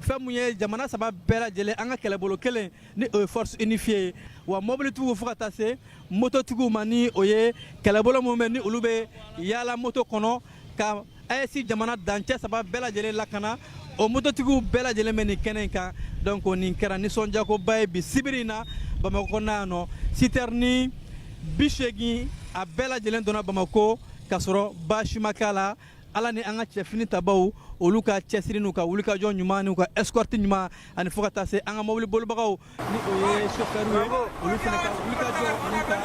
fɛn mun ye jamana saba bɛɛ lajɛlen an ka kɛlɛbolo kelen ni o ye force unifiée ye wa mobilitigiw fo ka taa se mototigiw ma ni o ye kɛlɛbolo minnu bɛ ni olu bɛ yaala moto kɔnɔ ka AES jamana dancɛ saba bɛɛ lajɛlen lakana o mototigiw bɛɛ lajɛlen bɛ nin kɛnɛ in kan donc nin kɛra nisɔndiyakoba ye bi sibiri in na bamakɔ kɔnɔna yan nɔ sitɛrini bi seegin a bɛɛ lajɛlen donna bamakɔ ka sɔrɔ baasi ma k'a la ala ni an ka cɛfini tabaw olu ka cɛsiri n'u ka wulikajɔ ɲuman n'u ka escorte ɲuman ani fo ka taa se an ka mobili bolibagaw ni o ye chauffeur ye olu fana ka wulikajɔ ani ka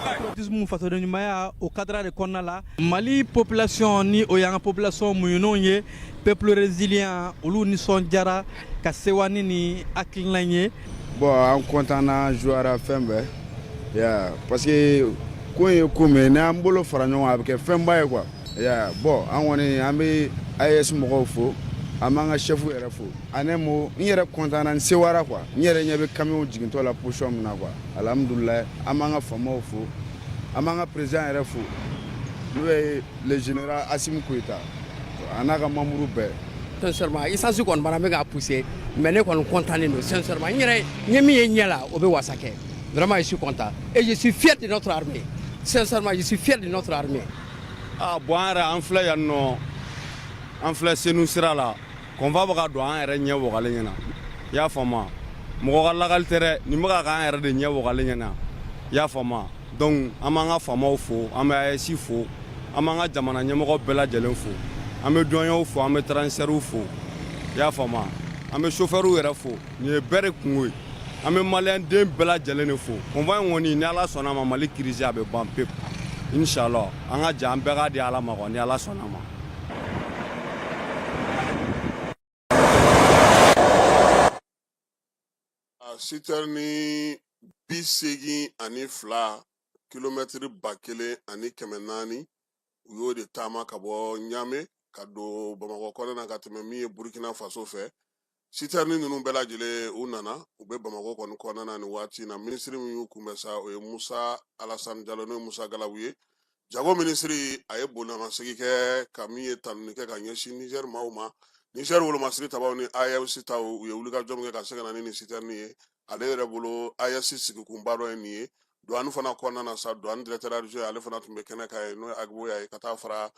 patriotisme fasoden ɲumanya o kadara de kɔnɔna la mali population ni o y'an ka population muɲunenw ye peuple résilient olu nisɔndiyara ka sewa ni nin hakilina in ye bon an kɔntanna diyara fɛn bɛɛ ye, parce que ko ye ko min n'an bolo fara ɲɔgɔn a bɛ kɛ fɛnba ye quoi ya bɔn an kɔni an bɛ AES mɔgɔw fo an b'an ka sɛfu yɛrɛ fo ani moi n yɛrɛ kɔntanna n sewara quoi n yɛrɛ ɲɛ bɛ kamiyɔn jigintɔ la position min na quoi alhamdulilayi an b'an ka faamaw fo an b'an ka président yɛrɛ fo n'o ye le général asimi goyita a n'a ka manburu bɛɛ esansi kɔni bana bɛ ka pousser mais ne kɔni kɔntanlen don sincèrement n yɛrɛ ye min ye ɲɛ la o bɛ wasa kɛ vraiment je suis content et je suis fier de notre armée sincèrement je suis fier de notre armée aa bɔn an yɛrɛ an filɛ yan nɔ an filɛ senu sira la convoi bɛ ka don an yɛrɛ ɲɛ wagalen ɲɛna i y'a faamu mɔgɔ ka lagali tɛ dɛ nin bɛ ka k'an yɛrɛ de ɲɛ wagalen ɲɛna i y'a faamu donc an b'an ka faamaw fo an bɛ AES fo an b'an ka jamana ɲɛmɔgɔ bɛɛ lajɛlen fo an bɛ duwaniyew fo an bɛ transitɛriw fo i y'a faamu an bɛ sofɛriw yɛrɛ fo nin ye bɛɛ de kungo ye an bɛ maliyɛn den bɛɛ lajɛlen de fo convoi in kɔni ni ala sɔnna ma mali kirisi a bɛ ban pewu inshallah an ka jɛ an bɛɛ k'a di ala ma ni ala sɔnna ma sitɛrini bi seegin ani fila kilomɛtiri ba kelen ani kɛmɛ naani u y'o de taama ka bɔ ɲame ka don bamakɔ kɔnɔ na ka tɛmɛ min ye burkina faso fɛ sitɛrini ninnu bɛɛ lajɛlen u nana u bɛ bamakɔ kɔni kɔnɔna na nin waati na minisiri min y'u kunbɛn sa o ye musa alasan jalo n'o ye musa galabu ye jago minisiri a ye bonyamasegin kɛ ka min ye tanuni kɛ ka ɲɛsin nizɛri maaw ma nizɛri wolomasiri tabaw ni ayɛsi taw u ye wulikajɔ min kɛ ka se ka na ni nin sitɛrinin ye ale yɛrɛ bolo ayɛsi sigikunba dɔ ye nin ye duwani fana kɔnɔna na sa duwani dirɛkitɛri ale fana tun bɛ kɛnɛ kan yen n'o ye ag boya ye ka taa fara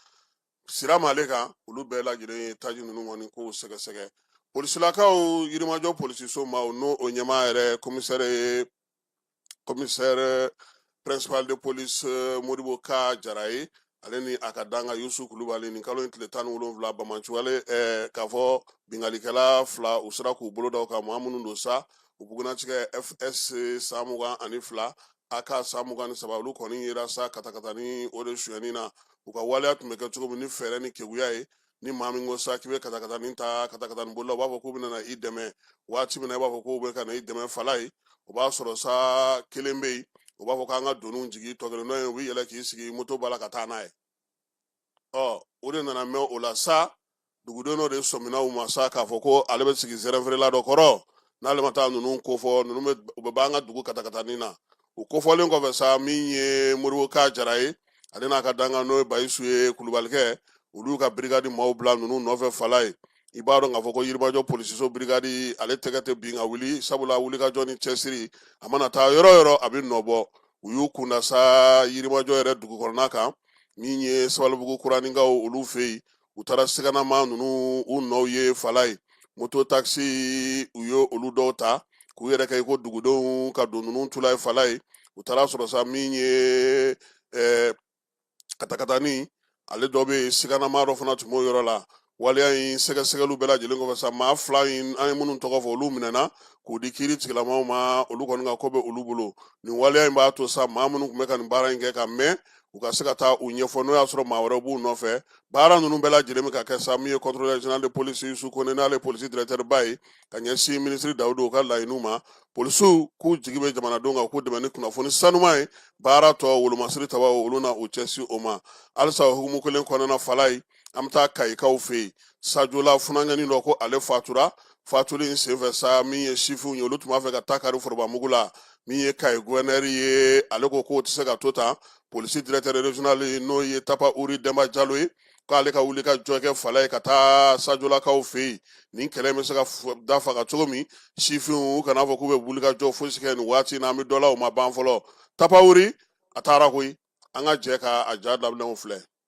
sirama ale kan olu bɛɛ lajɛlen ye taji ninnu kɔni ko sɛgɛsɛgɛ polisilakaw yirimajɔ polisiso ma n'o o ɲɛmaa yɛrɛ komisɛre ye komisɛre principal de police eh, modibo ka jara ye ale ni a ka danga yusu kulubali nin kalo in tile tan ni wolonwula bamancugale eh, k'a fɔ bingalikɛla fila u sera k'u bolo da u kan maa minnu don sa u bugunnatigɛ FS san mugan ani fila AK san mugan ni saba olu kɔni yera sa katakatani o de suyɛni na u ka waleya tun bɛ kɛ cogo min ni fɛɛrɛ ni keguya ye ni maa min ko sa k'i bɛ katakatani ta katakatani bolila u b'a fɔ k'u bɛna i dɛmɛ waati min na i b'a fɔ k'u bɛ ka na i dɛmɛ fala ye o b'a sɔrɔ sa kelen bɛ yen u b'a fɔ k'an ka doniw jigin tɔ kelen dɔ in u bɛ yɛlɛn k'i sigi moto bala ka taa n'a ye ɔ u de nana minɛ o la sa duguden dɔ de sɔminna u ma sa k'a fɔ ko ale bɛ sigi zɛrɛnfeerela dɔ kɔrɔ n'ale ma taa ninnu kofɔ ninnu bɛ u bɛ b'an ka dugu katakatani na u kofɔlen kɔfɛ sa min ye modibo ka jara ye ale n'a ka dankan n'o ye bayisu ye kulubalikɛ olu ka birikadi maaw bila ninnu nɔfɛ fala ye i b'a dɔn k'a fɔ ko yirimajɔ polisiso birikadi ale tɛgɛ tɛ bin ka wuli sabula wulikajɔ ni cɛsiri a mana taa yɔrɔ o yɔrɔ a bɛ nɔ bɔ u y'u kunda sa yirimajɔ yɛrɛ dugu kɔnɔna kan min ye sabalibugu kuraninkaw olu fɛ yen u taara siganama ninnu u nɔw ye fala ye moto takisi u ye olu dɔw ta k'u yɛrɛ kɛ i ko dugudenw ka don ninnu tula ye fala ye u taara sɔrɔ sa min ye eh, katakatani ale dɔ bɛ yen siganama dɔ fana tun b'o yɔrɔ la waleya in sɛgɛsɛgɛliw bɛɛ lajɛlen kɔfɛ sa maa fila in an ye minnu tɔgɔ fɔ olu minɛna k'u di kiiri tigilamaw ma olu kɔni ka ko bɛ olu bolo nin waleya in b'a to sa maa minnu tun bɛ ka nin baara in kɛ ka mɛn u ka se ka taa u ɲɛfɔ n'o y'a sɔrɔ maa wɛrɛw b'u nɔfɛ baara ninnu bɛɛ lajɛlen bɛ ka kɛ sa min ye contrôleur général de police yusu kone n'ale polisi directeurba ye ka ɲɛsin minisiri dawudu ka laɲiniw ma polisiw k'u jigi bɛ jamanadenw kan k'u dɛmɛ ni kunnafoni sanuman ye baara tɔ wolomasiri tabaw olu na u cɛsiri o ma halisa o hukumu kelen kɔnɔna fala ye an bɛ taa kayikaw fɛ yen sajola funankɛni dɔ ko ale fatura fatuli in senfɛ sa min ye sifinw ye olu tun b'a fɛ ka taa kari forobamugu la min ye kayi guwɛnɛri ye ale ko k'o tɛ se ka to tan polisi directeur regional n'o ye tapa uri dɛnba jalo ye k'ale ka wulikajɔ kɛ fala ye ka taa sajolakaw fɛ yen nin kɛlɛ bɛ se ka da faga cogo min sifinw u kana fɔ k'u bɛ wulikajɔ fosi kɛ nin waati in na an bɛ dɔ la o ma ban fɔlɔ tapa uri a taara koyi an ka jɛ ka a ja damaninw filɛ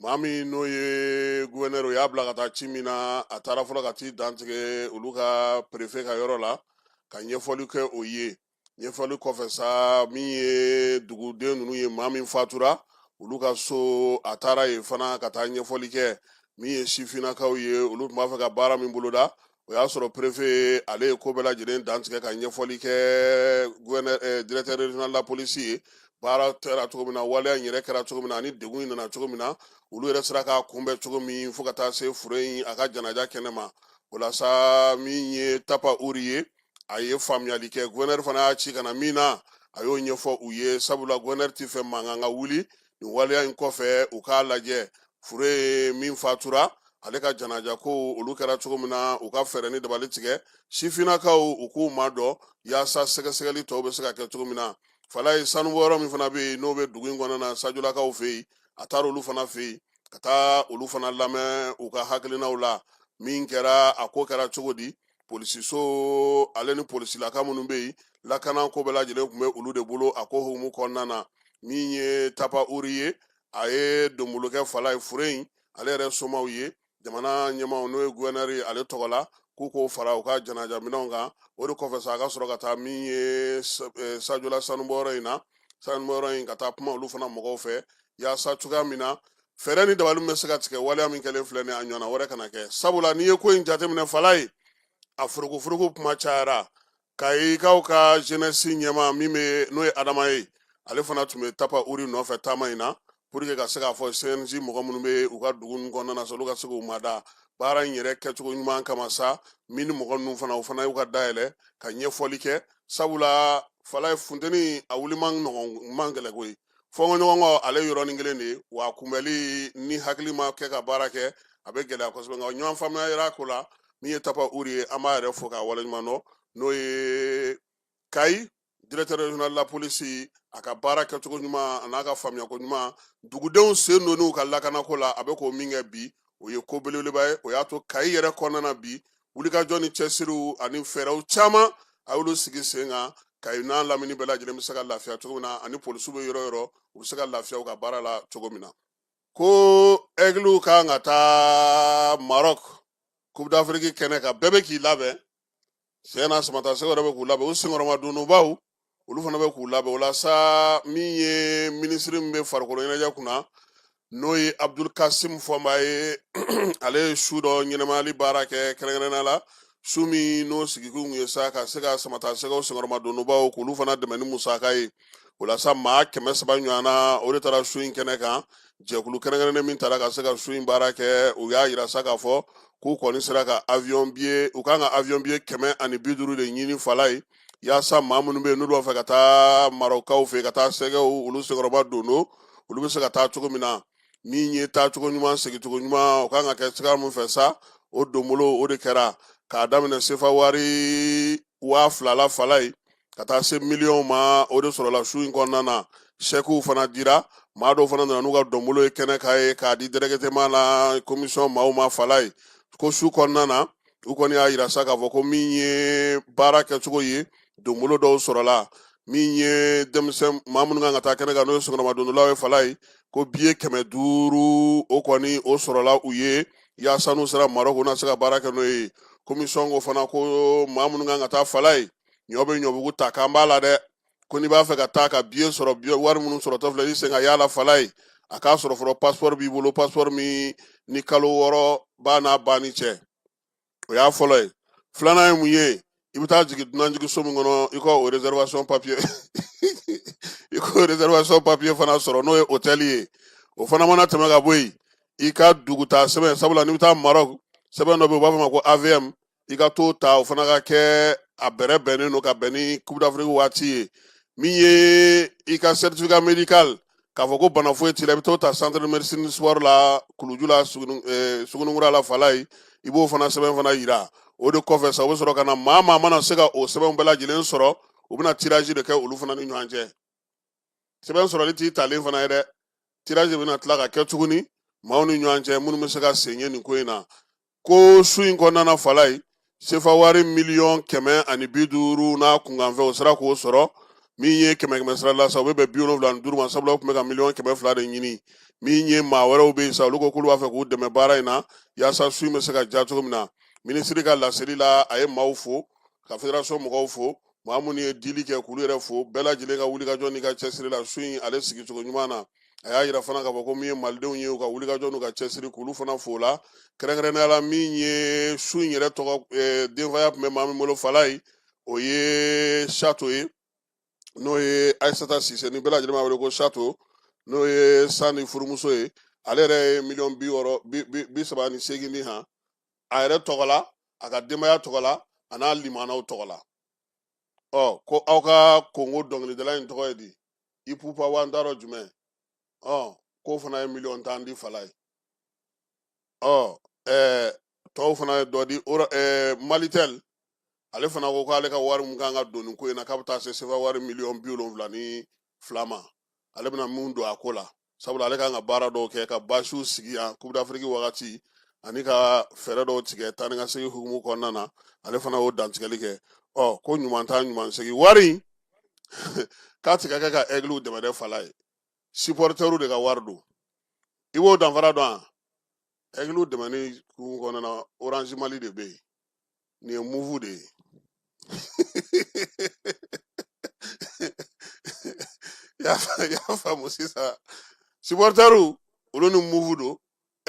maa min n'o ye guwɛnɛri o y'a bila ka taa ci min na a taara fɔlɔ ka t'i dantigɛ olu ka perefe ka yɔrɔ la ka ɲɛfɔli kɛ o ye ɲɛfɔli kɔfɛ sa min ye duguden ninnu ye maa min fatura olu ka so a taara yen fana ka taa ɲɛfɔli kɛ min ye sifinnakaw ye olu tun b'a fɛ ka baara min boloda o y'a sɔrɔ perefe ale ye ko bɛɛ lajɛlen dantigɛ ka ɲɛfɔli kɛ guwɛnɛri directeur regional de la polisi ye baara kɛra cogo min na waleya in yɛrɛ kɛra cogo min na ani degun in nana cogo min na olu yɛrɛ sera k'a kunbɛn cogo min fo ka taa se fure in a ka janaja kɛnɛ ma o la sa min ye tapa uri ye a ye faamuyali kɛ guwɛnɛri fana y'a ci ka na min na a y'o ɲɛfɔ u ye sabula guwɛnɛri tɛ fɛ mankan ka wuli nin waleya in kɔfɛ u k'a lajɛ fure ye min fatura ale ka janaja ko olu kɛra cogo min na u ka fɛɛrɛ ni dabali tigɛ sifinnakaw u k'u mada yaasa sɛgɛsɛgɛli tɔw bɛ se ka kɛ cogo min na fala ye sanubɔyɔrɔ min fana bɛ yen n'o bɛ dugu in kɔnɔna na sajolakaw fɛ yen a taara olu fana fɛ yen ka taa olu fana lamɛn u ka hakilinaw la min kɛra a ko kɛra cogo di polisiso ale ni polisilaka minnu bɛ yen lakana ko bɛɛ lajɛlen tun bɛ olu de bolo a ko hukumu kɔnɔna na min ye tapa uri ye a ye donbolo kɛ fala ye fure in ale yɛrɛ somaw ye jamana ɲɛmaw n'o ye guwɛnɛri ye ale tɔgɔ la k'u k'o fara u ka janaja minɛnw kan o de kɔfɛ sa a ka sɔrɔ ka taa min ye eh, sajola sanubɔyɔrɔ in na sanubɔyɔrɔ in ka taa kuma olu fana mɔgɔw fɛ yaasa cogoya min na fɛɛrɛ ni dabali bɛ se ka tigɛ waleya min kɛlen filɛ ni a ɲɔgɔnna wɛrɛ kana kɛ sabula n'i ye ko in jateminɛ fala ye a forokoforoku kuma cayara kayikaw ka jenɛsi ɲɛma min bɛ n'o ye adama ye ale fana tun bɛ tapa uri nɔfɛ taama in na pour que ka se k'a fɔ cnj mɔgɔ minnu bɛ u ka dugu ninnu kɔnɔna na sa olu ka se k'u mada baara in yɛrɛ kɛcogo ɲuman kama sa min ni mɔgɔ ninnu fana o fana y'u ka dayɛlɛ ka ɲɛfɔli kɛ sabula fala ye funteni a wuli man gɛlɛ koyi fɔnkɔɲɔgɔnkɔ ale yɔrɔnin kelen de ye wa kunbɛli ni hakili ma kɛ ka baara kɛ a bɛ gɛlɛya kosɛbɛ nka ɲɔgɔn faamuya yera ko la min ye tapa uri ye an b'a yɛrɛ fo k'a waleɲuman dɔn n'o ye kayi directeur régional de la police a ka baara kɛcogo ɲuman a n'a ka faamuyako ɲuman dugudenw sen donn'u ka lakanako la a bɛ k'o min kɛ bi o ye ko belebeleba ye o y'a to kayi yɛrɛ kɔnɔna na bi wulikajɔ ni cɛsiriw ani fɛɛrɛw caman a y'olu sigi sen kan kayi n'a lamini bɛɛ lajɛlen bɛ se ka lafiya cogo min na ani polisiw bɛ yɔrɔ yɔrɔ u bɛ se ka lafiya u ka baara la cogo min na ko ɛgiliw kan ka taa marɔk coupe d'afrique kɛnɛ kan bɛɛ bɛ k'i labɛn tiɲɛ na samata sɛgɛw yɛrɛ bɛ k'u labɛn u senkɔrɔmadonbaw olu fana bɛ k'u labɛn o la sa min ye minisiri min bɛ farikolo ɲɛnajɛ kunna n'o ye abdul kasim fɔnba ye ale ye su dɔ ɲɛnamayali baara kɛ kɛrɛnkɛrɛnnenya la su min n'o sigikun ye sa ka se ka samata sɛgɛw senkɔrɔmadonbaw k'olu fana dɛmɛ ni musaka ye o la sa maa kɛmɛ saba ɲɔgɔnna o de taara su in kɛnɛ kan jɛkulu kɛrɛnkɛrɛnnen min taara ka se ka su in baara kɛ u y'a yira sa k'a fɔ k'u kɔni sera ka avion biye u kan ka avion biye kɛmɛ ani bi duuru de ɲini fala ye yaasa maa minnu bɛ yen n'olu b'a fɛ ka taa marɔkaw fɛ ka taa sɛgɛw olu senkɔrɔma don don olu bɛ se ka taa cogo min na min ye taacogo ɲuman segincogo ɲuman o kan ka kɛ sira min fɛ sa o donbolo o de kɛra k'a daminɛ sefa wari waa fila la fala ye ka taa se miliyɔn ma o de sɔrɔla su in kɔnɔna na sɛkiw fana dira maa dɔw fana nana n'u ka donbolo ye kɛnɛ kan yen k'a di dɛrɛkɛtɛma la komisɔn maaw ma fala ye ko su kɔnɔna na u kɔni y'a yira sa k'a fɔ ko min ye baara kɛcogo ye donbolo dɔw sɔrɔla min ye denmisɛn maa minnu kan ka taa kɛnɛ kan n'o ye senkɔrɔma dondolaw ye fala ye ko biye kɛmɛ duuru o kɔni o sɔrɔla u ye yaasa n'u sera marɔku u na se ka baara kɛ n'o ye komisɔn ko fana ko maa minnu kan ka taa fala ye ɲɔ bɛ ɲɔbugu ta k'an b'a la dɛ ko n'i b'a fɛ ka taa ka biye sɔrɔ wari minnu sɔrɔtɔ filɛ i sen ka y'a la falaye a k'a sɔrɔ fɔlɔ pasipɔri b'i bolo pasipɔri min ni kalo wɔɔrɔ b'a n'a banni cɛ o y'a fɔlɔ ye filanan ye mun ye i bɛ taa jigin dunanjigiso min kɔnɔ i ka o réservation papiye i k'o réservation papiye fana sɔrɔ n'o ye hôtel ye o fana mana tɛmɛ ka bɔ yen i ka dugutaa sɛbɛn sabula n'i bɛ taa Maroc sɛbɛn dɔ bɛ yen u b'a fɔ ma ko AVM i ka t'o ta o fana ka kɛ a bɛrɛbɛnnen don ka bɛn ni coupe d'afrique waati ye min ye i ka certificat médical k'a fɔ ko bana foyi t'i la i bɛ t'o ta centre de médecine sport la kuluju la suguninkura la falaye i b'o fana sɛbɛn fana yira o de kɔfɛ sa u bɛ sɔrɔ ka na maa maa mana se ka o sɛbɛnw bɛɛ lajɛlen sɔrɔ u bɛna tirage de kɛ olu fana ni ɲɔgɔn cɛ sɛbɛn sɔrɔli t'i talen fana ye dɛ tirazi bɛna tila ka kɛ tuguni maaw ni ɲɔgɔn cɛ minnu bɛ se ka sen ye nin ko in na ko su in kɔnɔna falaye sefa wari miliyɔn kɛmɛ ani bi duuru n'a kunkanfɛn u sera k'o sɔrɔ min ye kɛmɛ kɛmɛ sira la sa o bɛ bɛn bi wolonwula ani duuru ma sabula u tun bɛ ka miliyɔn kɛmɛ fila de ɲini min ye maa wɛrɛw bɛ yen sa olu ko k'olu b'a fɛ k'u dɛmɛ baara in na yaasa su in bɛ se ka diya cogo min na minisiri ka laseli la a ye maaw fo ka federasɔn mɔgɔw fo maa minnu ye dili kɛ k'olu yɛrɛ fo bɛɛ lajɛlen ka wulikajɔ n'i ka cɛsiri la su in ale sigicogo ɲuman na a y'a yira fana k'a fɔ ko min ye malidenw ye u ka wulikajɔ n'u ka cɛsiri k'olu fana fo la kɛrɛnkɛrɛnnenya la min ye su in yɛrɛ tɔgɔ eh, denfaya tun bɛ maa min bolo falaye o ye shato ye n'o ye ayisata sise ni bɛɛ lajɛlen b'a wele ko shato n'o ye sani furumuso ye ale yɛrɛ ye miliyɔn bi wɔɔrɔ bi saba ni seegin di han a yɛrɛ tɔgɔ la a ka denbaya tɔgɔ la a n'a limanaw tɔgɔ la ɔ ko aw ka kongo dɔnkilidala in tɔgɔ ye di ipupa wa n t'a dɔn jumɛn ɔ k'o fana ye miliyɔn tan di falaye ɔ ɛɛ tɔw fana ye dɔ di ɛɛ malitɛl ale fana ko k'ale ka wari min kan ka don nin ko in na k'a bɛ taa se sefa wari miliyɔn bi wolonwula ni fila ma ale bɛna min don a ko la sabula ale kan ka baara dɔw kɛ ka basiw sigi yan kupudafiriki wagati ani ka fɛɛrɛ dɔw tigɛ taa ni ka segin hukumu kɔnɔna na ale fana y'o dantigɛli kɛ ɔ ko ɲuman taa ɲuman segin wari k'a ti ka kɛ ka ɛgiliw dɛmɛ dɛ falaye sipɔritɛriw de ka wari don i b'o danfara dɔn a ɛgiliw dɛmɛni hukumu kɔnɔna na oranzi mali de bɛ yen nin ye moov de ye y'a faamu sisan sipɔritɛriw olu ni moov don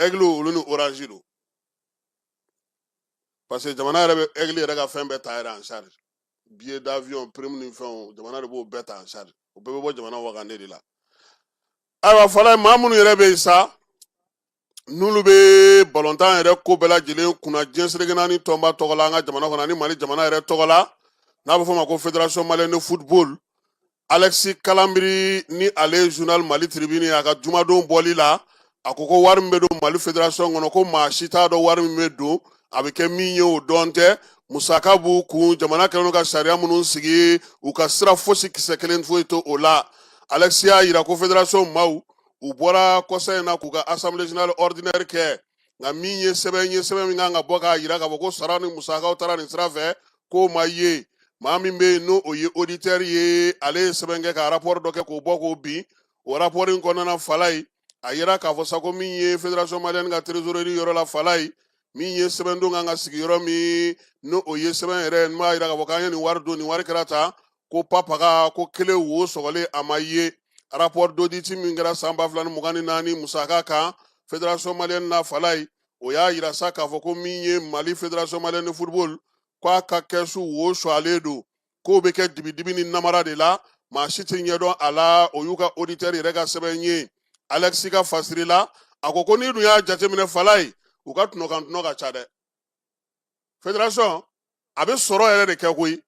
ɛgiliw olu ni oranzi don parce que jamana yɛrɛ bɛ ɛgili yɛrɛ ka fɛn bɛɛ ta yɛrɛ en charge biye d'avion prime ni fɛnw jamana de b'o bɛɛ ta en charge o bɛɛ bɛ bɔ jamana wagande de la ayiwa falaye maa minnu yɛrɛ bɛ yen sa n'olu bɛ balɔntan yɛrɛ ko bɛɛ lajɛlen kunna diɲɛ seleke naani tɔnba tɔgɔ la an ka jamana kɔnɔ ani mali jamana yɛrɛ tɔgɔ la n'a bɛ fɔ a ma ko federation malienne de football alexis kalambry ni ale journal mali tribune a ka jumadon bɔli la a ko ko wari min bɛ don mali federation kɔnɔ ko maa si t'a dɔn wari min bɛ don a bɛ kɛ min ye o dɔn tɛ musaka b'u kun jamana kɛlen ka sariya minnu sigi u ka sira fosi kisɛ kelen foyi t'o la alexis y'a jira ko federation maaw u bɔra kɔsa in na k'u ka assemblée générale ordinaire kɛ nka min ye sɛbɛn ye sɛbɛn min kan ka bɔ k'a jira k'a fɔ ko sara ni musakaw taara nin sira fɛ k'o ma ye maa min bɛ yen n'o ye auditeur ye ale ye sɛbɛn kɛ ka rapport dɔ kɛ k'o bɔ k'o bin o rapport in kɔnɔna fala ye a yira k'a fɔ sa ko min ye fédération malienne ka trésorerie yɔrɔ la fala ye min ye sɛbɛn don kan ka sigi yɔrɔ min n'o ye sɛbɛn yɛrɛ in b'a jira k'a fɔ k'an ye nin wari don nin wari kɛra tan ko papaga ko kelen wo sɔgɔlen a ma ye rapport d'audit min kɛra san ba fila ni mugan ni naani musaka kan federation malienne na falayi o y'a yira sa k'a fɔ ko min ye mali federation malienne de football ko a ka kɛsu wo sɔgɔlen don k'o bɛ kɛ dibidibi ni namara de la maa si tɛ ɲɛ dɔn a la o y'u ka auditeur yɛrɛ ka sɛbɛn ye alexis ka fasiri la a ko ko n'i dun y'a jateminɛ falayi u ka tɔnɔ kan tɔnɔ ka ca dɛ federasɔn a bɛ sɔrɔ yɛrɛ de kɛ koyi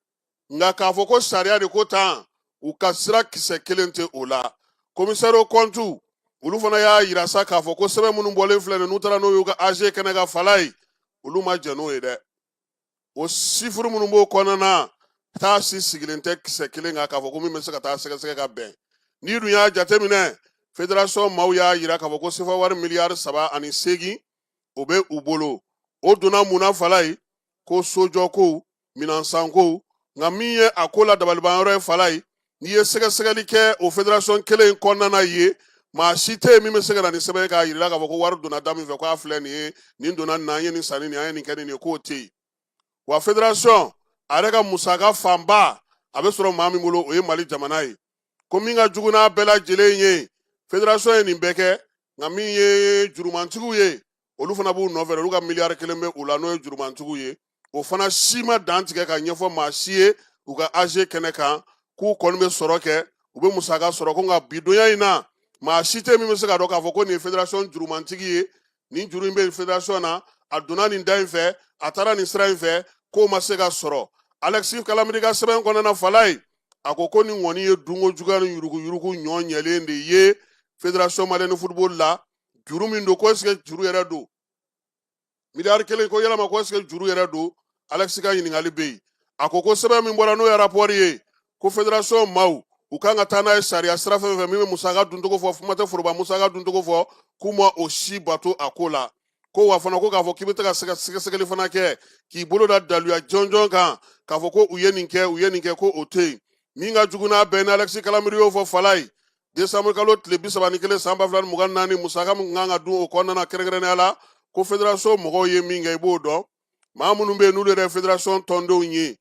nka k'a fɔ ko sariya de ko tan u ka sira kisɛ kelen tɛ o la commissaire aux comptes olu fana y'a yira sa k'a fɔ ko sɛbɛn minnu bɔlen filɛ nin n'u taara n'o y'u ka AG kɛnɛ kan fala ye olu ma jɛn n'o ye dɛ o sifuru minnu b'o kɔnɔna na taa si sigilen tɛ kisɛ kelen kan k'a fɔ ko min bɛ se ka taa sɛgɛsɛgɛ ka bɛn n'i dun y'a jateminɛ federasɔn maaw y'a yira k'a fɔ ko sefa wari miliyari saba ani seegin o bɛ u bolo o donna mun na fala ye ko sojɔkow minɛnsankow nka min ye a ko la dabalibanyɔrɔ ye fala ye n'i ye sɛgɛsɛgɛli kɛ o federasɔn kelen in kɔnɔna ye maa si tɛ yen min bɛ se ka na ni sɛbɛn ye k'a jira k'a fɔ ko wari donna da min fɛ k'a filɛ nin ye nin donna nin na an ye nin san ni nin an ye nin kɛ nin ye k'o tɛ yen wa federasɔn a yɛrɛ ka musaka fanba a bɛ sɔrɔ maa min bolo o ye mali jamana ye ko min ka jugu n'a bɛɛ lajɛlen ye federasɔn ye nin bɛɛ kɛ nka min ye jurumantigiw ye olu fana b'u nɔfɛ olu ka miliyari kelen bɛ u la n'o ye jurumantigiw ye o fana si ma dantigɛ ka ɲɛfɔ maa si ye u ka AG kɛnɛ kan k'u kɔni bɛ sɔrɔ kɛ u bɛ musaka sɔrɔ ko nka bidonya in na maa si tɛ min bɛ se k'a dɔn k'a fɔ ko nin ye federasɔn jurumantigi ye nin juru in bɛ federasɔn na a donna nin da in fɛ a taara nin sira in fɛ k'o ma se ka sɔrɔ alexis kalambry ka sɛbɛn kɔnɔna fala ye a ko ko nin kɔni ye dunko juguya ni yurugu yurugu ɲɔ ɲɛlen de ye federation malienne de football la juru min don ko est ce que juru yɛrɛ don miliyari kelen ko yalama ko est ce que juru yɛrɛ don alɛkisi ka ɲininkali bɛ yen a ko ko sɛbɛn min bɔra n'o ye rapɔri ye ko federation maaw u kan ka taa n'a ye sariya sira fɛn fɛn min bɛ musaka duncogo fɔ kuma tɛ foroba musaka duncogo fɔ k'u ma o si bato a ko la ko wa fana ko k'a fɔ k'i bɛ taa ka sɛgɛsɛgɛli fana kɛ k'i bolo da daluya jɔnjɔn kan k'a fɔ ko u ye nin kɛ u ye nin kɛ ko o tɛ yen min ka jugu n'a bɛɛ ni alɛkisi kalanbiri y'o fɔ falaye desanburu kalo tile bi saba ni kelen san ba fila ni mugan naani musaka min kan ka dun o kɔnɔna na kɛrɛnkɛrɛnnenya la ko federasɔn mɔgɔw ye min kɛ i b'o dɔn maa minnu bɛ yen n'olu yɛrɛ federasɔn tɔndenw ye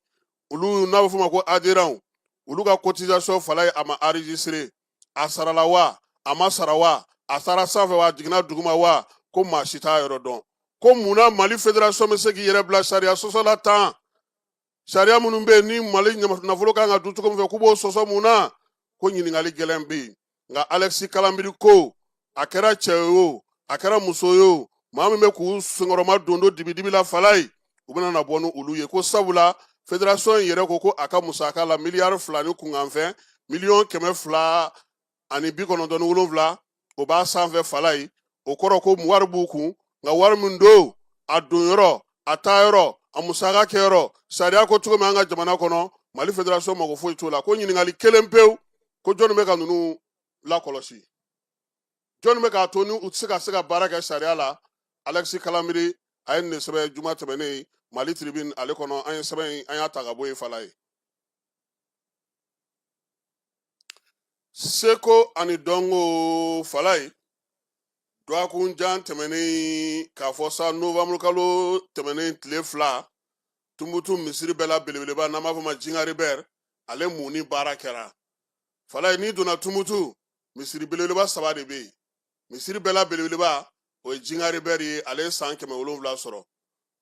olu n'a bɛ f'o ma ko aderanw olu ka cotisation falaye a ma enregistré a sarala wa a ma sara wa a taara sanfɛ wa a jiginna duguma wa ko maa si t'a yɔrɔ dɔn ko mun na mali federasɔn bɛ se k'i yɛrɛ bila sariya sɔsɔ la tan sariya minnu bɛ yen ni mali nafolo kan ka dun cogo min fɛ k'u b'o sɔsɔ mun na ko ɲininkali gɛlɛn bɛ yen nka alɛkisi kalanbiri ko a kɛra cɛ ye o a kɛra muso ye o maa min bɛ k'u senkɔrɔmadondon dibidibi la falaye u bɛna na bɔ ni olu ye ko sabula federasɔn in yɛrɛ ko ko a ka musaka la miliyari fila ni kunkanfɛn miliyɔn kɛmɛ fila ani bi kɔnɔntɔn ni wolonwula o b'a sanfɛ falaye o kɔrɔ ko wari b'u kun nka wari min don a don yɔrɔ a taa yɔrɔ a musaka kɛ yɔrɔ sariya ko cogo min an ka jamana kɔnɔ mali federasɔn mago foyi t'o la ko ɲininkali kelen pewu ko jɔnni bɛ ka ninnu lakɔlɔsi jɔnni bɛ k'a to ni u tɛ se ka se ka baara kɛ sariya la alɛkisi kalanbiri a ye nin de sɛbɛn juma tɛmɛnen mali tribune ale kɔnɔ an ye sɛbɛn in an y'a ta ka bɔ yen falaye seko ani dɔnko falaye dɔgɔkun jan tɛmɛnen k'a fɔ sa novembre kalo tɛmɛnen tile fila tumutu misiri bɛɛ la belebeleba n'an b'a fɔ ma jingari bɛr ale munni baara kɛra falaye n'i donna tumutu misiri belebeleba saba de bɛ yen misiri bɛɛ la belebeleba o ye jingari bɛri ye ale ye san kɛmɛ wolonwula sɔrɔ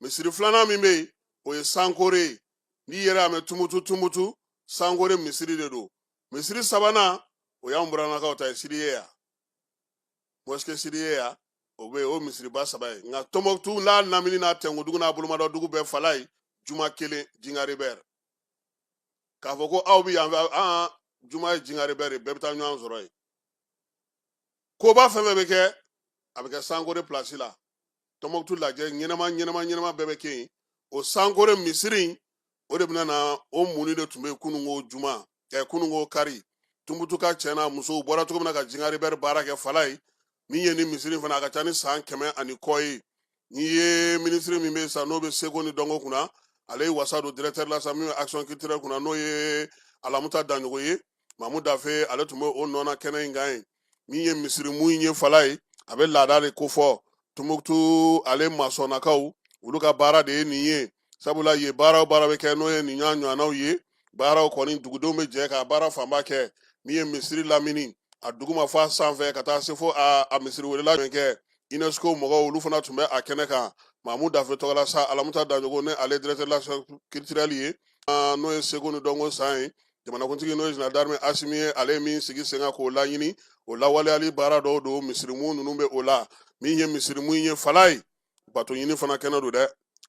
misiri filanan min bɛ yen o ye sankore ye n'i yɛrɛ y'a mɛn tumutu tumutu sankore misiri de don misiri sabanan o y'an buranakaw ta ye sidi yaya mosquée sidi yaya o bɛ yen o misiriba saba ye nka tɔnbɔkutu n'a lamini n'a tɛnkudugu n'a bolomadɔ dugu bɛɛ falaye juma kelen jingari bɛri k'a fɔ ko aw bɛ yan fɛ an juma ye jingari bɛri ye bɛɛ bɛ taa ɲɔgɔn sɔrɔ yen koba fɛn fɛn bɛ kɛ a bɛ kɛ sankore pilasi la tɔmɔkutu lajɛ ɲɛnama ɲɛnama ɲɛnama bɛɛ bɛ kɛ yen o sankore misiri in o de bɛna na o munni de tun bɛ kununko juma ɛ kununko kari tumutuka cɛ n'a musow bɔra cogo min na ka jingari bɛri baara kɛ falaye min ye ni misiri fana a ka ca ni san kɛmɛ ani kɔ ye n'i ye minisiri min bɛ sa n'o bɛ seko ni dɔnko kunna ale ye wasa don directeur la sa min bɛ action culturelle kunna n'o ye alamuta daɲɔgɔ ye mamu dafe ale tun bɛ o nɔ na kɛnɛ in kan yen min ye misirimu in ye fala ye a bɛ laada de kofɔ tumutu ale masɔnnakaw olu ka baara de ye nin ye sabula ye baara o baara bɛ kɛ n'o ye nin ɲɔgɔn ɲɔgɔnnaw ye baaraw kɔni dugudenw bɛ jɛ ka baara fanba kɛ min ye misiri lamini a duguma fo a sanfɛ ka taa se fo a a misiri welela min kɛ unesco mɔgɔw olu fana tun bɛ a kɛnɛ kan mamu dafe tɔgɔ la sa alamuta daɲɔgɔ ne ale directeur la culturel ye n'o ye seko ni dɔnko san ye jamanakuntigi n'o ye général d'armée asimi ye ale ye min sigi sen kan k'o laɲini o lawaleyali baara dɔw don misirimu ninnu bɛ o la min ye misirimu ye fala ye bato ɲini fana kɛnɛ don dɛ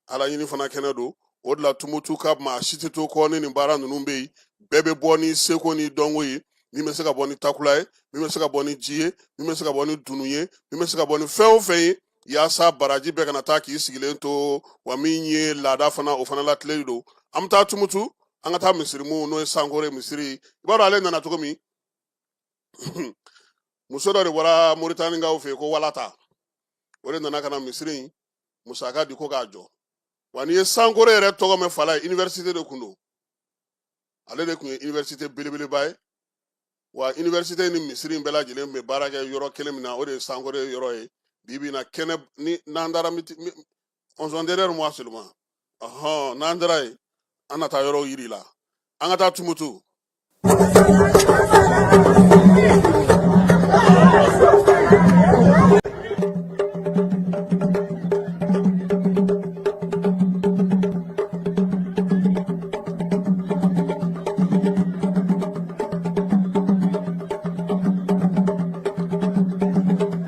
ala ɲini fana kɛnɛ don o de la tumutu ka maa si tɛ to kɔ ni nin baara ninnu bɛ yen bɛɛ bɛ bɔ ni seko ni dɔnko ye min bɛ se ka bɔ ni takula ye min bɛ se ka bɔ ni ji ye min bɛ se ka bɔ ni dunu ye min bɛ se ka bɔ ni fɛn o fɛn ye yaasa baraji bɛɛ kana taa k'i sigilen to wa min ye laada fana o fana latilen don an bɛ taa tumutu an ka taa misirimu n'o ye sankore misiri i b'a dɔn ale nana cogo min muso dɔ de bɔra moritanikaw fɛ yen ko walata o de nana ka na misiri in musaka di ko k'a jɔ wa n'i ye sankore yɛrɛ tɔgɔ mɛn fala ye iniwɛrisite de kun don ale de kun ye iniwɛrisite belebeleba ye wa iniwɛrisite ni misiri in bɛɛ lajɛlen tun bɛ baara kɛ yɔrɔ kelen min na o de ye sankore yɔrɔ ye bi bi in na kɛnɛ ni n'an taara juste derrière moi seulement ɔhɔn n'an taara yen an na taa yɔrɔw yira a la an ka taa tumutu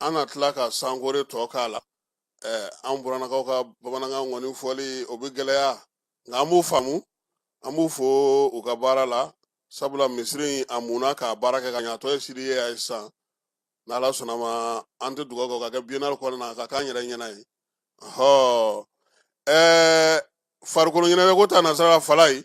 An na tila ka sankore tɔ k'a la an burannakaw ka bamanankan kɔni fɔli o bɛ gɛlɛya nka an b'u faamu an b'u fo u ka baara la sabula misiri in a munna k'a baara kɛ ka ɲa a tɔ ye siri ye a ye sisan n'ala sɔnna ma an tɛ dugawu kɛ ka kɛ biennale kɔnɔna na ka k'an yɛrɛ ɲɛna ye ɔhɔ ɛɛ farikolo ɲɛnajɛ ko ta nasara fala ye